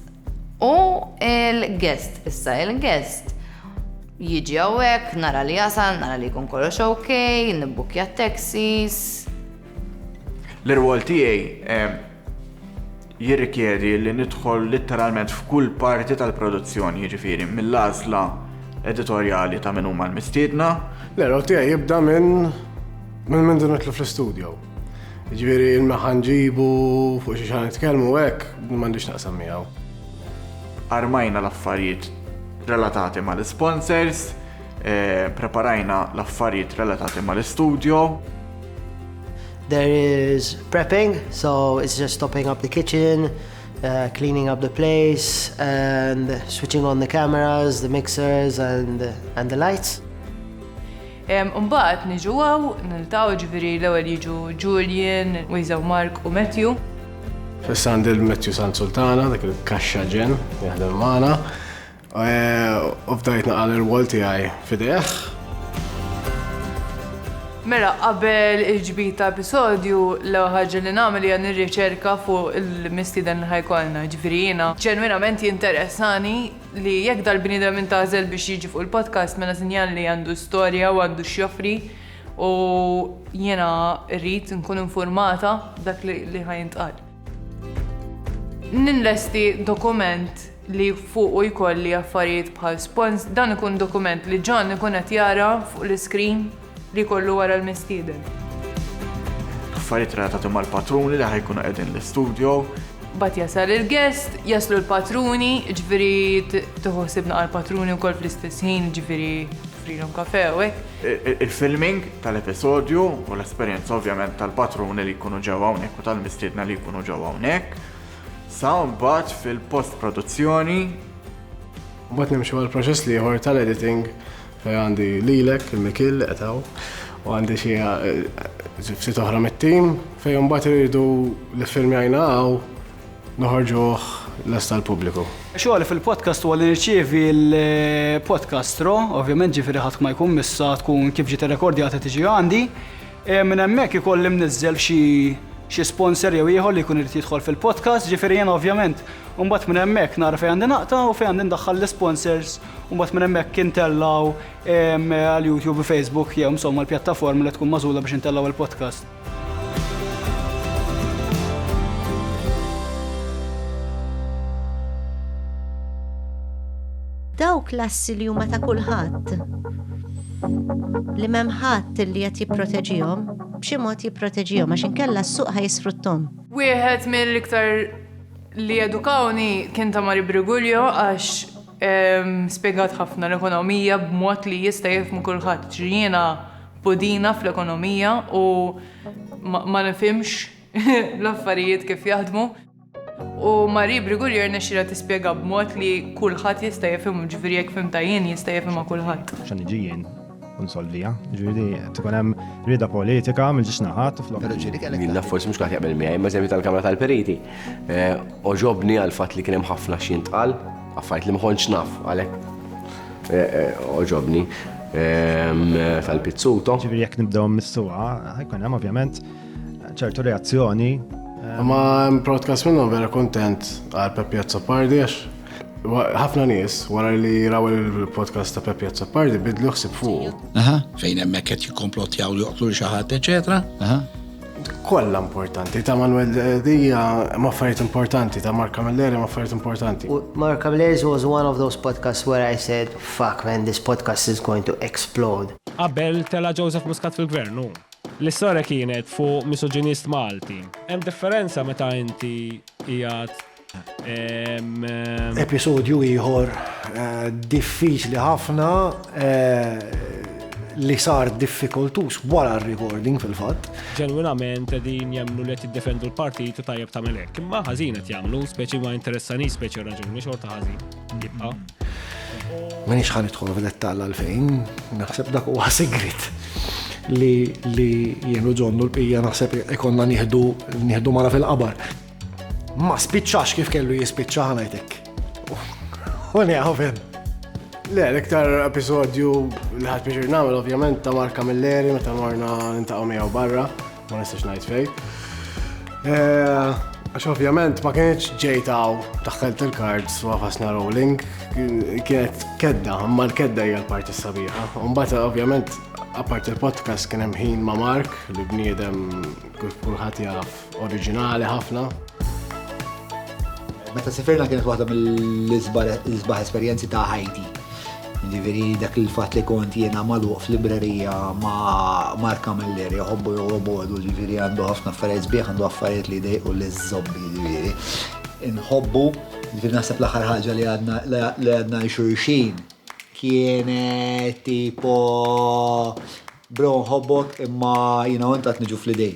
U il-guest, issa il-guest jiġi għawek, nara li jasal, nara li jkun kollox ok, nibbukja t-taxis. L-irwol tiegħi jirrikjedi li nidħol litteralment f'kull parti tal-produzzjoni, jiġifieri mill-għażla editorjali ta' min huma l-mistiedna. L-irwol tiegħi jibda minn minn nidħlu fl-istudio. Ġifieri il-meħħa nġibu fuq xi xi nitkellmu hekk m'għandix naqsam miegħu. Armajna l-affarijiet relatati mal-isponsors, eh, preparajna l-affarijiet relatati mal-istudjo. There is prepping, so it's just stopping up the kitchen, uh, cleaning up the place and switching on the cameras, the mixers and, and the lights. Imbagħad niġu hawn, niltaqgħu, jiġifieri l-ewwel jiġu Julian, Wiseau Mark u Matthew. Fis Sandel Matthew Sant Sultana, dak il-kaxxa ġenn li jaħdem magħna. U bdajt naqal ir-rwol tiegħi f'idejh. Mela qabel il-ġbir ta' episodju, l-ewwel ħaġa li nagħmel hija nirriċerka fuq il-mistieden li ħa jkollna. Jiġifieri jiena ġenwinament jinteressani li jekk dal-bniedem intgħażel biex jiġi fuq il-podcast mela sinjal li għandu storja u għandu x'joffri u jiena rrid nkun informata dak li ħajintqal. Ninlesti dokument li fuqu jkolli affarijiet bħal spons, dan ikun dokument li John ikun qed jara fuq l-iskrin Li jkollu wara l-mistieden. Affarijiet relatati mal-patruni li ħajkunu qegħdin l-istudjo. Bat jasal il-guest, jaslu l-patruni, ġviri tuħosibna għal-patruni u kol fl-istess ħin, ġviri frilom kafe u Il-filming tal-episodju u l-esperienza ovvjament tal-patruni li jkunu ġewwa hawnhekk u tal-mistiedna li jkunu ġewwa hawnhekk. Sa mbagħad fil-post-produzzjoni. Mbagħad nimxu għal proċess liħor tal-editing Għandi lilek, il-Mikil, li qed hawn, u għandi xi ftit oħra mit-tim fejn imbagħad iridu li filmjajna hawn noħorġuh lest tal-pubbliku. Xogħol fil-podcast huwa li nirċievi l-podcast ro, ovvjament ġifieri ħadd ma jkun missa tkun kif ġiet irrekordjata tiġi għandi. E, minn hemmhekk ikolli mniżżel xi xi sponsor jew ieħor li jkun irid jidħol fil-podcast, ġifieri jien ovvjament mbagħad minn hemmhekk nara fejn għandi naqta' u fejn għandi ndaħħal l-sponsors u mbagħad minn hemmhekk intellgħu għal YouTube u Facebook jew insomma l-pjattaforma li tkun mażula biex intellgħu il-podcast. Dawk l-assi li huma ta' kulħadd li m'hemm ħadd li qed jipproteġihom b'xi mod jipproteġihom għax inkella s-suq ħajsfruttom. Wieħed mill-iktar li edukawni kien ta' Mari Brigulio għax Spjegat ħafna l-ekonomija b'mod li jista' jifhmu kulħadd. Ġri jiena pudina fl-ekonomija u ma nifhimx l-affarijiet kif jaħdmu. U Marie Brigulier rnexxielha tispjega b'mod li kulħadd jista' jifhimha, ġifieri jekk fhimtha jien jista' jifhimha kulħadd. Sa niġi jien, Unsolvija, ġviri, tkun hemm rida politika minn ġiex naħat u flok. Jien naf forsi mhux kaħt jaqbel miegħi, ma żemmi tal-Kamra tal-Periti. Eh, oġobni għal fatt li kien hemm ħafna xi ntqal, affajt li ma kontx naf għalhekk. Eh, eh, oġobni ehm, tal-pizzuto. Ġviri, jekk nibdew mis-suqa, ħajkun hemm ovvjament ċertu reazzjoni. Ma protkas minnhom vera kontent għal Peppi Azzopardi għax Ħafna nies wara li raw il-podcast ta' Peppi Azzapardi bidlu ħsib fuq. Aha. Fejn hemmhekk qed jikkomplottjaw li joqtlu xi ħadd, eċetera. Aha. Kollha importanti ta' Manuel Dija ma' affarijiet importanti ta' Mark Camilleri ma' affarijiet importanti. Mark Camilleri was one of those podcasts where I said, fuck man, this podcast is going to explode. Qabel tela' Joseph Muscat fil-gvern, hu. L-istorja kienet fuq misoġinist Malti. Hemm differenza meta inti qiegħed Episodju ieħor eh, diffiċli ħafna eh, li sar diffikultus wara r-recording fil-fatt. Ġenwinament din jemnu li tiddefendu l-partit u tajjeb ta' melek. Imma ħażin qed jagħmlu, speċi ma interessani speċi raġuni xorta ħażin. Jibqa'. Minix ħan idħol fil-dettall għalfejn, naħseb dak huwa sigrit li li jenu ġonnu l-pija naħseb ikonna nieħdu nieħdu mara fil-qabar. Ma spiċċax kif kellu jispiċċa ħanajtek. U li għafem. Le, l-iktar episodju li ħat biex namel, ovvjament, ta' Marka Milleri, meta morna nintaqaw miegħu barra, ma nistax ngħid fej. Eh, għax ovvjament ma kienx ġejtaw taħħelt il-kards u għafasna rolling, kienet kedda, ma l-kedda hija l-parti sabiħa. Umbata ovvjament, apart il-podcast kien hemm ħin ma' Mark, li bniedem kulħadd jaf Oriġinali ħafna. Meta sifirna kienet waħda mill-isbaħ esperjenzi ta' ħajti. Ġiviri dak il-fat li kont jena maluq fl-librerija ma' Marka Melleri, jħobbu jħobbu, ġiviri għandu ħafna affarijiet sbieħ, għandu affarijiet li dejqu li zobbi, ġiviri. Nħobbu, ġiviri nasab l-axar ħagġa li għadna xurxin, kienet tipo, bro, nħobbok imma jina għontat nġu fl-idej.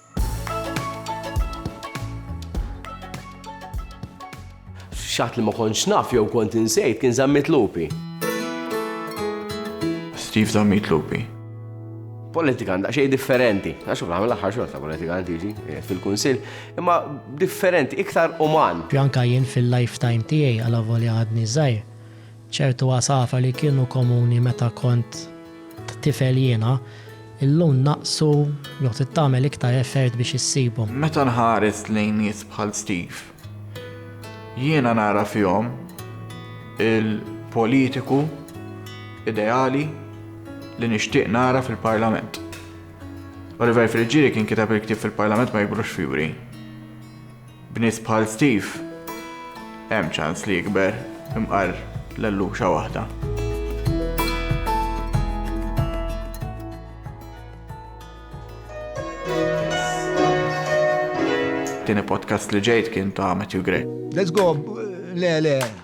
F'xatt li ma kontx naf jew kont insejt kien Zammit Lupi. Steve Zammit Lupi. Politikan daqsxejn differenti, għax fl-aħħar mill-aħħar xorta politikan tiġi eh, fil-Kunsill, imma differenti, iktar uman. Anka jien fil-lifetime tiegħi għal avolja għadni żgħir, Ċertu għasafar li kienu komuni meta kont tifel jiena, illum naqsu jew trid tagħmel iktar effert biex issibhom. Meta nħares lejn nies bħal Steve, jiena nara fihom il-politiku ideali li nixtieq nara fil-Parlament. Oliver Friggieri kien kiteb il-ktieb fil-Parlament ma jikbrux fjuri. B'nies bħal Steve, hemm ċans li jikber imqar l-elluxa waħda. it-tieni podcast li ġejt kien ta' Matthew Gray. Let's go, le, le,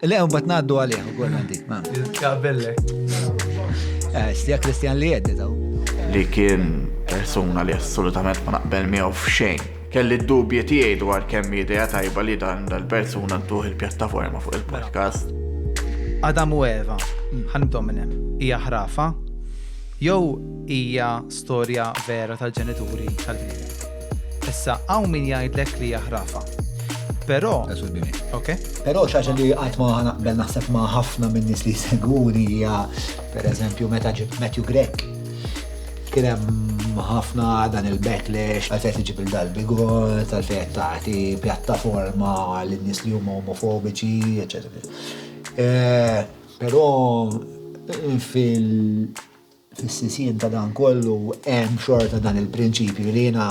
Le, un bat naddu għalih, u għolna dik, ma. Jizkabellek. Eh, stija Kristjan li jeddi daw. Li kien persuna li assolutament ma naqbel miegħu f'xejn. Kelli d-dubji tiegħi dwar kemm idea tajba li dan dal-persuna ntuħ il-pjattaforma fuq il-podcast. Adam u Eva, ħanibdew minn hemm. Hija ħrafa jew hija storja vera tal-ġenituri tal-bniedem. Issa hawn min jgħidlek li hija ħrafa. Però. Ok. Però xaġa li qatt ma naqbel naħseb ma' ħafna minn nies li jsegwuni hija pereżempju meta ġib Matthew Grek. Kien hemm ħafna dan il-backlash għal fejn tiġib il-dalbigot, għal fejn tagħti pjattaforma lin nies li huma omofobiċi, eċetera. Eh, però fil- Fis-sisien ta' dan kollu hemm xorta dan il-prinċipju li jiena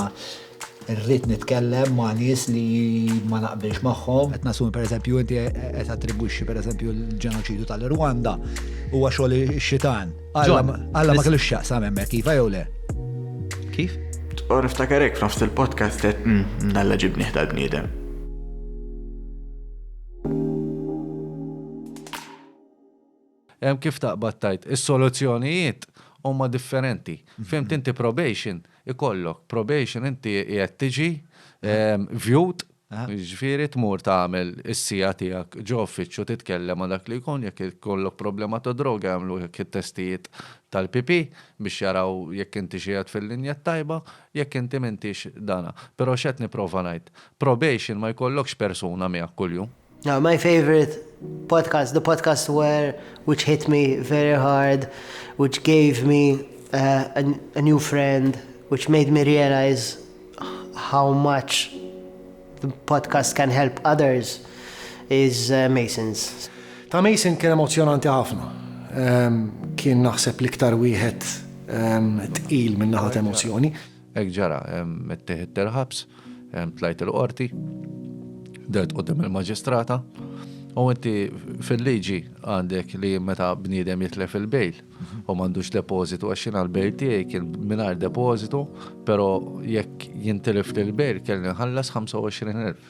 rrid nitkellem ma' nies li ma naqbilx magħhom. Qed nassumi pereżempju inti qed attribwixxi pereżempju l-ġenoċidju tal-Irwanda huwa xogħol ix-xitan. Alla ma kellux x'jaqsam hemmhekk, iva jew le? Kif? U niftakar hekk f'nofs il-podcast qed Alla ġibnih tal-bniedem. Hemm kif taqbad tgħid, is-soluzzjonijiet huma differenti. Fhimt inti probation ikollok, probation inti qiegħed tiġi viewed, jiġifieri tmur tagħmel is-siegħa tiegħek ġo uffiċċju titkellem ma' dak li jkun, jekk ikollok problema ta' droga jagħmlulek it-testijiet tal-PP biex jaraw jekk intix qiegħed fil-linja t-tajba, jekk inti m'intix dana. Però x'qed nipprova ngħid, probation ma jkollokx persuna miegħek kuljum. Now my favorite podcast, the podcast where which hit me very hard, which gave me uh, a, a new friend, which made me realize how much the podcast can help others is uh, Masons. Ta' Mason kien emozjonanti ħafna. Um, kien naħseb liktar wieħed um, tqil minn naħat emozjoni. Hekk ġara, mettih id-derħabs, tlajt il-qorti, dert qudiem il-maġistrata, u inti fil-liġi għandek li meta bniedem jitlef il-bejl u m'għandux depożitu għax jiena l-bejl tiegħi kien mingħajr depożitu, però jekk jintilef l-bejl kelli nħallas 25,000.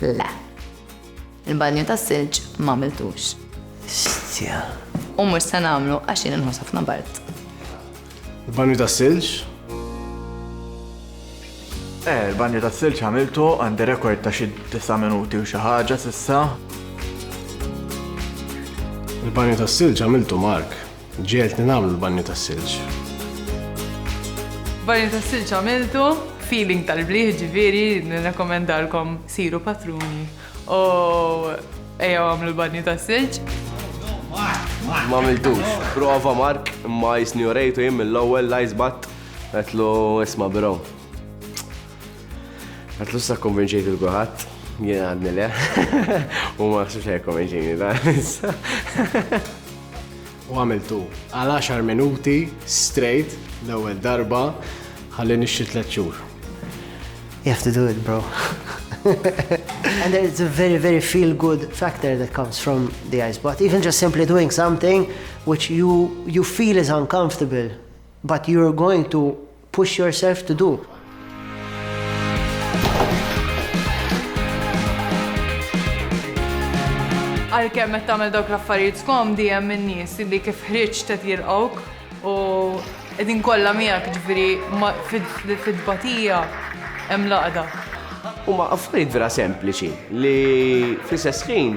Le. Il-banju tas-silġ m'għamiltux. Xtja. U mhux se nagħmlu għax jien inħoss ħafna bart. Il-banju tas-silġ? Eh, il-banju tas-silġ għamiltu għandi rekord ta' xi disa' minuti u xi ħaġa s'issa. Il-banju tas-silġ għamiltu Mark. Ġegħeltni nagħmlu l-banju tas-silġ. Banju tas-silġ għamiltu, feeling tal-bliħ ġifieri nirrekomendalkom siru patruni u ejjew għamlu l-banju tas-silġ. M'għamiltux. Prova Mark, imma jisni urejtu jien mill-ewwel l-ice bath, għedtlu isma' bro. Għatlu sa konvinċejt il-guħat, jien għadni le, u ma xiex għaj konvinċejni da. U għamiltu għal 10 minuti straight l-ewwel darba ħalli nixxi tliet xhur. You have to do it, bro. and there's a very, very feel good factor that comes from the ice bath. Even just simply doing something which you, you feel is uncomfortable, but you're going to Push yourself to do. Għalkemm qed tagħmel dawk l-affarijiet skomdi hemm in-nies li kif ħriġ qed jilqgħuk u qegħdin kollha miegħek ġifieri fid-batija hemm laqda. Huma affarijiet vera sempliċi li fl-istess ħin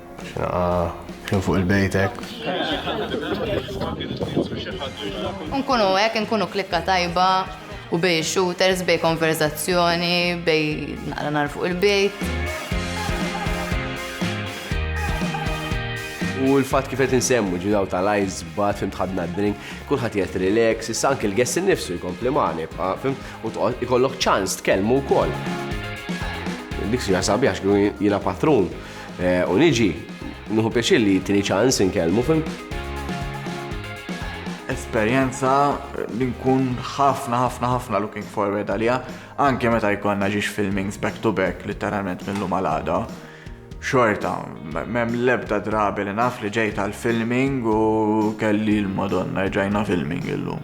Xnaqa kien fuq il-bejtek. Nkunu hekk, nkunu klikka tajba u bej shooters, bej konverzazzjoni, bej naqra nar fuq il-bejt. U l-fat kif qed insemmu ġidaw tal-ice bat fim tħadna d-drink, kulħadd qed relax, issa anke l-guest innifsu jkompli magħni, fim u ikollok ċans tkellmu wkoll. Dik sija sabiħ x'kienu jiena patrun. U niġi, nuhu pjaċir li tini ċans inkellmu fim. Esperjenza li nkun ħafna ħafna ħafna looking forward għalija, anke meta jkollna ġiex filmings back to back literalment minn lum għal Xorta, mem lebda drabi li naf li ġejt għal filming u kelli l-Madonna ġajna filming illum.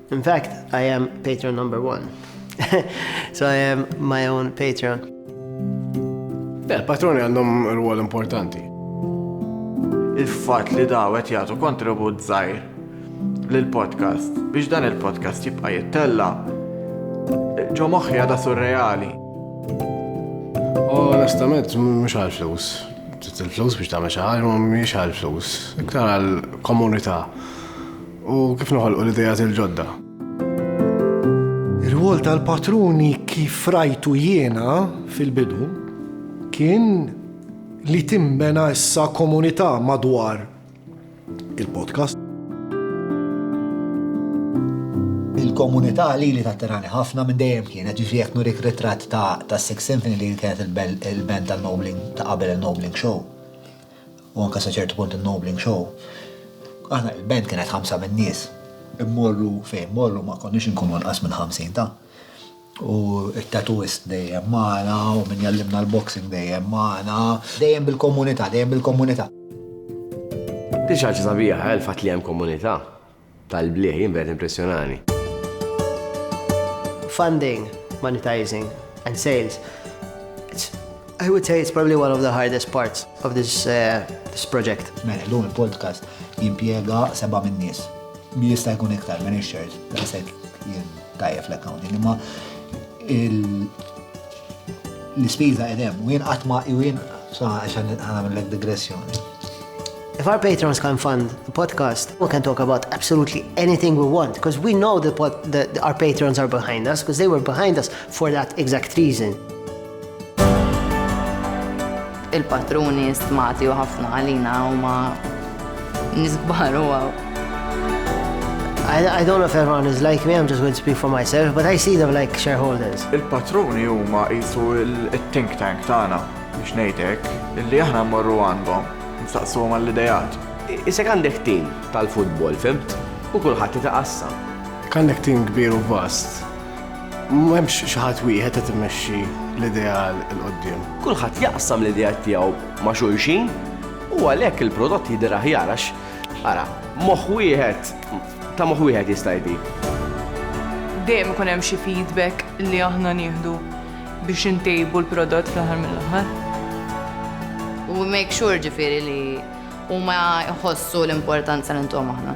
In fact, I am patron number one. so I am my own patron. Yeah, patroni għandhom rwol importanti. Il-fat li dawet jagħtu kontribut żgħir lill-podcast biex dan il-podcast jibqa' jittella ġo moħħi għada surreali. Onestament, mhux għal flus. Ġiet il-flus biex tagħmel xi ħaġa mhix għal flus. Iktar għal komunità. U kif noħolqu l-idejat il-ġodda? Ir-rwol tal-patruni kif rajtu jiena fil-bidu kien li timbena issa komunità madwar il-podcast. Il-komunità li li tatterani ħafna minn dejjem kienet ġifri jekk nurik ritratt ta' Six Symphony li kienet il-band tal-Nobling ta' qabel il-Nobling Show. u anke sa ċertu punt in-Nobling Show, aħna il-band kienet ħamsa min-nies, immorru fejn mmorru ma konniex inkunu inqas minn ħamsin ta'. U t-tattooist dejjem magħna u min jgħallimna l-boxing dejjem magħna, dejjem bil-komunità, dejjem bil-komunità. Din xi ħaġa sabiħa, il-fatt li hemm komunità. tal-blieh, jien verament impressjonani. Funding, monetizing and sales. I would say it's probably one of the hardest parts of this, uh, this project. Mela, l-lum il-podcast jimpiega seba minn nies. Mi jista' jkun iktar minn ix-shares, daqshekk jien tajjeb l-accounting, imma L-ispiża qed hemm, u jien qatt ma u jien sa għax nagħmellek digressjoni. If our patrons can fund the podcast, we can talk about absolutely anything we want, because we know that, what, that our patrons are behind us, because they were behind us for that exact reason. Il-patruni stmati u ħafna għalina huma nies kbar u I, I don't know if everyone is like me, I'm just going to speak for myself, but I see them like shareholders. Il-patruni huma jisu il-think tank tagħna biex ngħidek illi aħna mmorru għandhom nistaqsu għall-idejat. Isek għandek tim tal-futbol, fimt? U kulħadd itaqassam. Għandek tim kbir u vast M'hemmx xi ħadd wieħed qed imexxi l-ideal 'il quddiem. Kulħadd jaqsam l-ideat tiegħu ma' xulxin u għalhekk il-prodott jidher aħjar għax, ara, moħħ wieħed, ta' moħħ wieħed jista' jdi. Dejjem ikun hemm xi feedback li aħna nieħdu biex intejbu l-prodott fl-aħħar mill-aħħar. We make sure ġifieri li huma jħossu l-importanza li ntuhom aħna.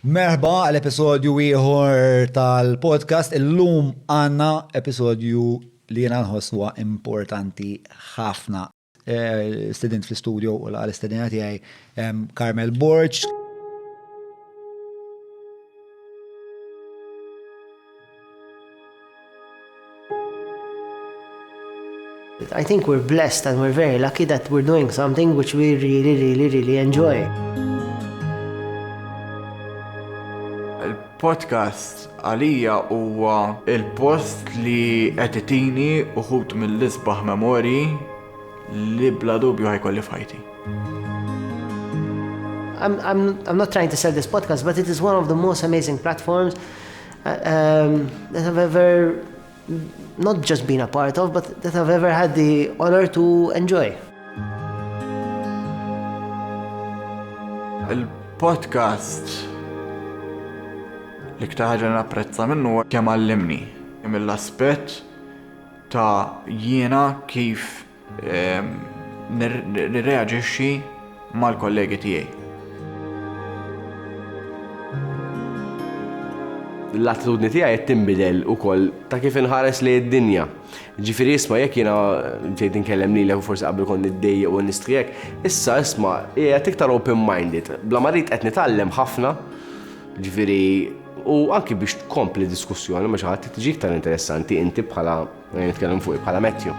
Merħba għal episodju ieħor tal-podcast. Illum għandna episodju li jiena nħoss huwa importanti ħafna. Eh, student fl-studio u l-għal istedina tiegħi Carmel Borċ. I think we're blessed and we're very lucky that we're doing something which we really, really, really enjoy. Il-podcast għalija huwa il-post li qed itini uħut mill-isbaħ memori li bla dubju ħajkolli fajti. I'm, I'm, I'm not trying to sell this podcast, but it is one of the most amazing platforms that I've ever not just been a part of, but that I've ever had the honor to enjoy. Il-podcast li ktaħġa napprezza minnu kemm għallimni mill-aspett ta' jiena kif nirreaġixxi mal-kollegi tiegħi. L-attitudni tiegħi qed tinbidel ukoll ta' kif inħares li d-dinja. Ġifieri isma' jekk jiena bdejt inkellem lilek u forsi qabel kont niddejjaq u nistrijek, issa isma' qiegħed iktar open-minded. Bla marid qed nitgħallem ħafna, ġifieri u anki biex tkompli diskussjoni ma' xi ħadd tiġi iktar interessanti inti bħala Jien nitkellem fuq bħala Matthew.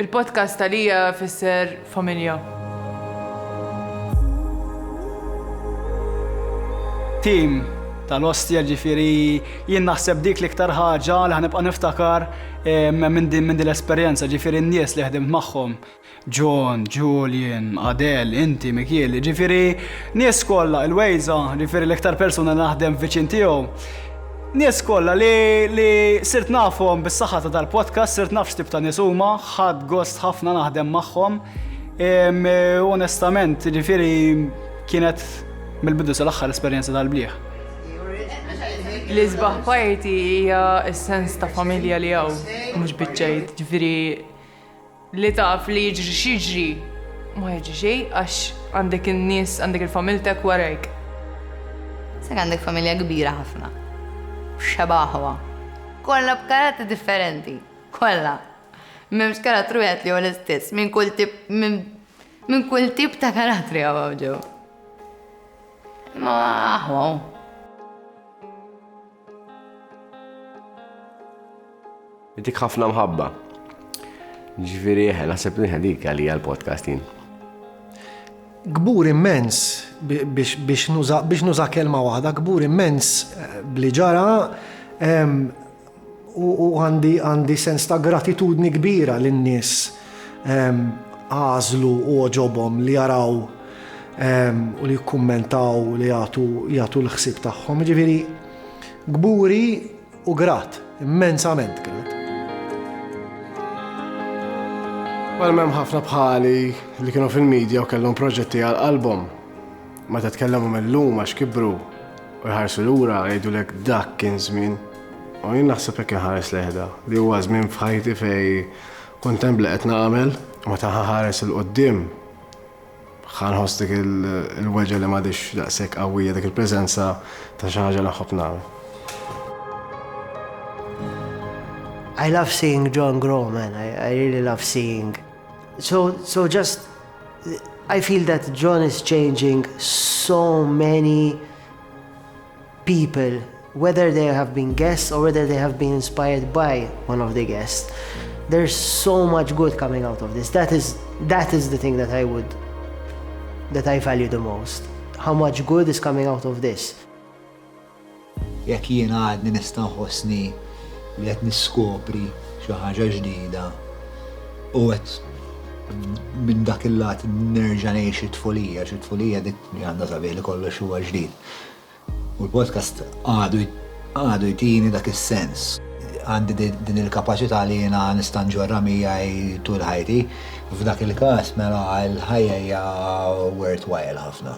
Il-podcast għalija fisser familja. Tim tal-ostja ġifiri jien naħseb dik l-iktar ħaġa li ħanibqa' niftakar eh, minn din l-esperjenza ġifiri n-nies li ħdimt magħhom. John, Julian, Adel, inti, Mikiel, jiġifieri nies kollha, il-Wejża, jiġifieri l-iktar persuna li naħdem viċin tiegħu. Nies kollha li, li sirt nafhom bis-saħħa ta' dal-podcast, sirt naf x'tip ta' nies huma, ħadt gost ħafna naħdem magħhom. Onestament, jiġifieri kienet mill-bidu sal-aħħar esperjenza tal-blieh. L-isbaħ parti hija s-sens ta' familja li hawn, mhux biċċejt, ġifieri Li taf li jiġri x'jiġri, ma jiġri xejn għax għandek in-nies, għandek il-familtek warajk. Sek għandek familja kbira ħafna. Xeba' aħwa. Kollha b'karattri differenti. Kollha. M'hemmx karattru wieħed li hu l-istess. Minn kull tip, minn kull tip ta' karattri hawn hawn ġew. Imma aħwa hu. Intik ħafna mħabba. Ġifieri eħe, naħseb li dik għalija l-podcast jien. Gbur immens biex nuża kelma waħda, gbur immens eh, bli ġara u għandi sens ta' gratitudni kbira lin-nies għażlu u għoġobhom li jaraw u li jikkummentaw li jagħtu l-ħsieb tagħhom. Ġifieri gburi u grat, immensament grat. Għal mem ħafna bħali li kienu fil-medja u kellhom proġetti għal album. Ma ta' tkellemu mill-lum għax kibru u jħarsu l-ura jgħidu lek dak kien żmien. U jien naħseb hekk inħares leħda li huwa żmien f'ħajti fej Kont hemm li qed nagħmel, u meta ħa nħares 'il quddiem ħa nħoss dik il-weġgħa li m'għadhiex daqshekk qawwija, dik il-preżenza ta' xi ħaġa li nħobb nagħmel. I love seeing John grow, man. I, I really love seeing. So, so just, I feel that John is changing so many people, whether they have been guests or whether they have been inspired by one of the guests. There's so much good coming out of this. That is, that is the thing that I would, that I value the most. How much good is coming out of this. Jekk jien għadni nista' nħossni li qed niskopri xi ħaġa ġdida u qed minn dak il-lat nerġa' ngħix it-tfulija, xi tfulija dik li għandha sabiħ li kollox huwa ġdid. U l-podcast għadu jtini dak is-sens. Għandi din il-kapaċità li jiena nista' nġorrha miegħi tul ħajti. F'dak il-każ mela l-ħajja hija worthwhile ħafna.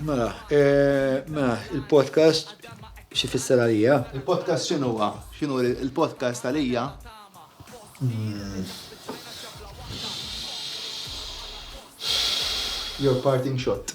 Mela, eh, mela, il-podcast xi fisser għalija? Il-podcast xinu huwa? Xinu il-podcast għalija? Hmm. Your parting shot.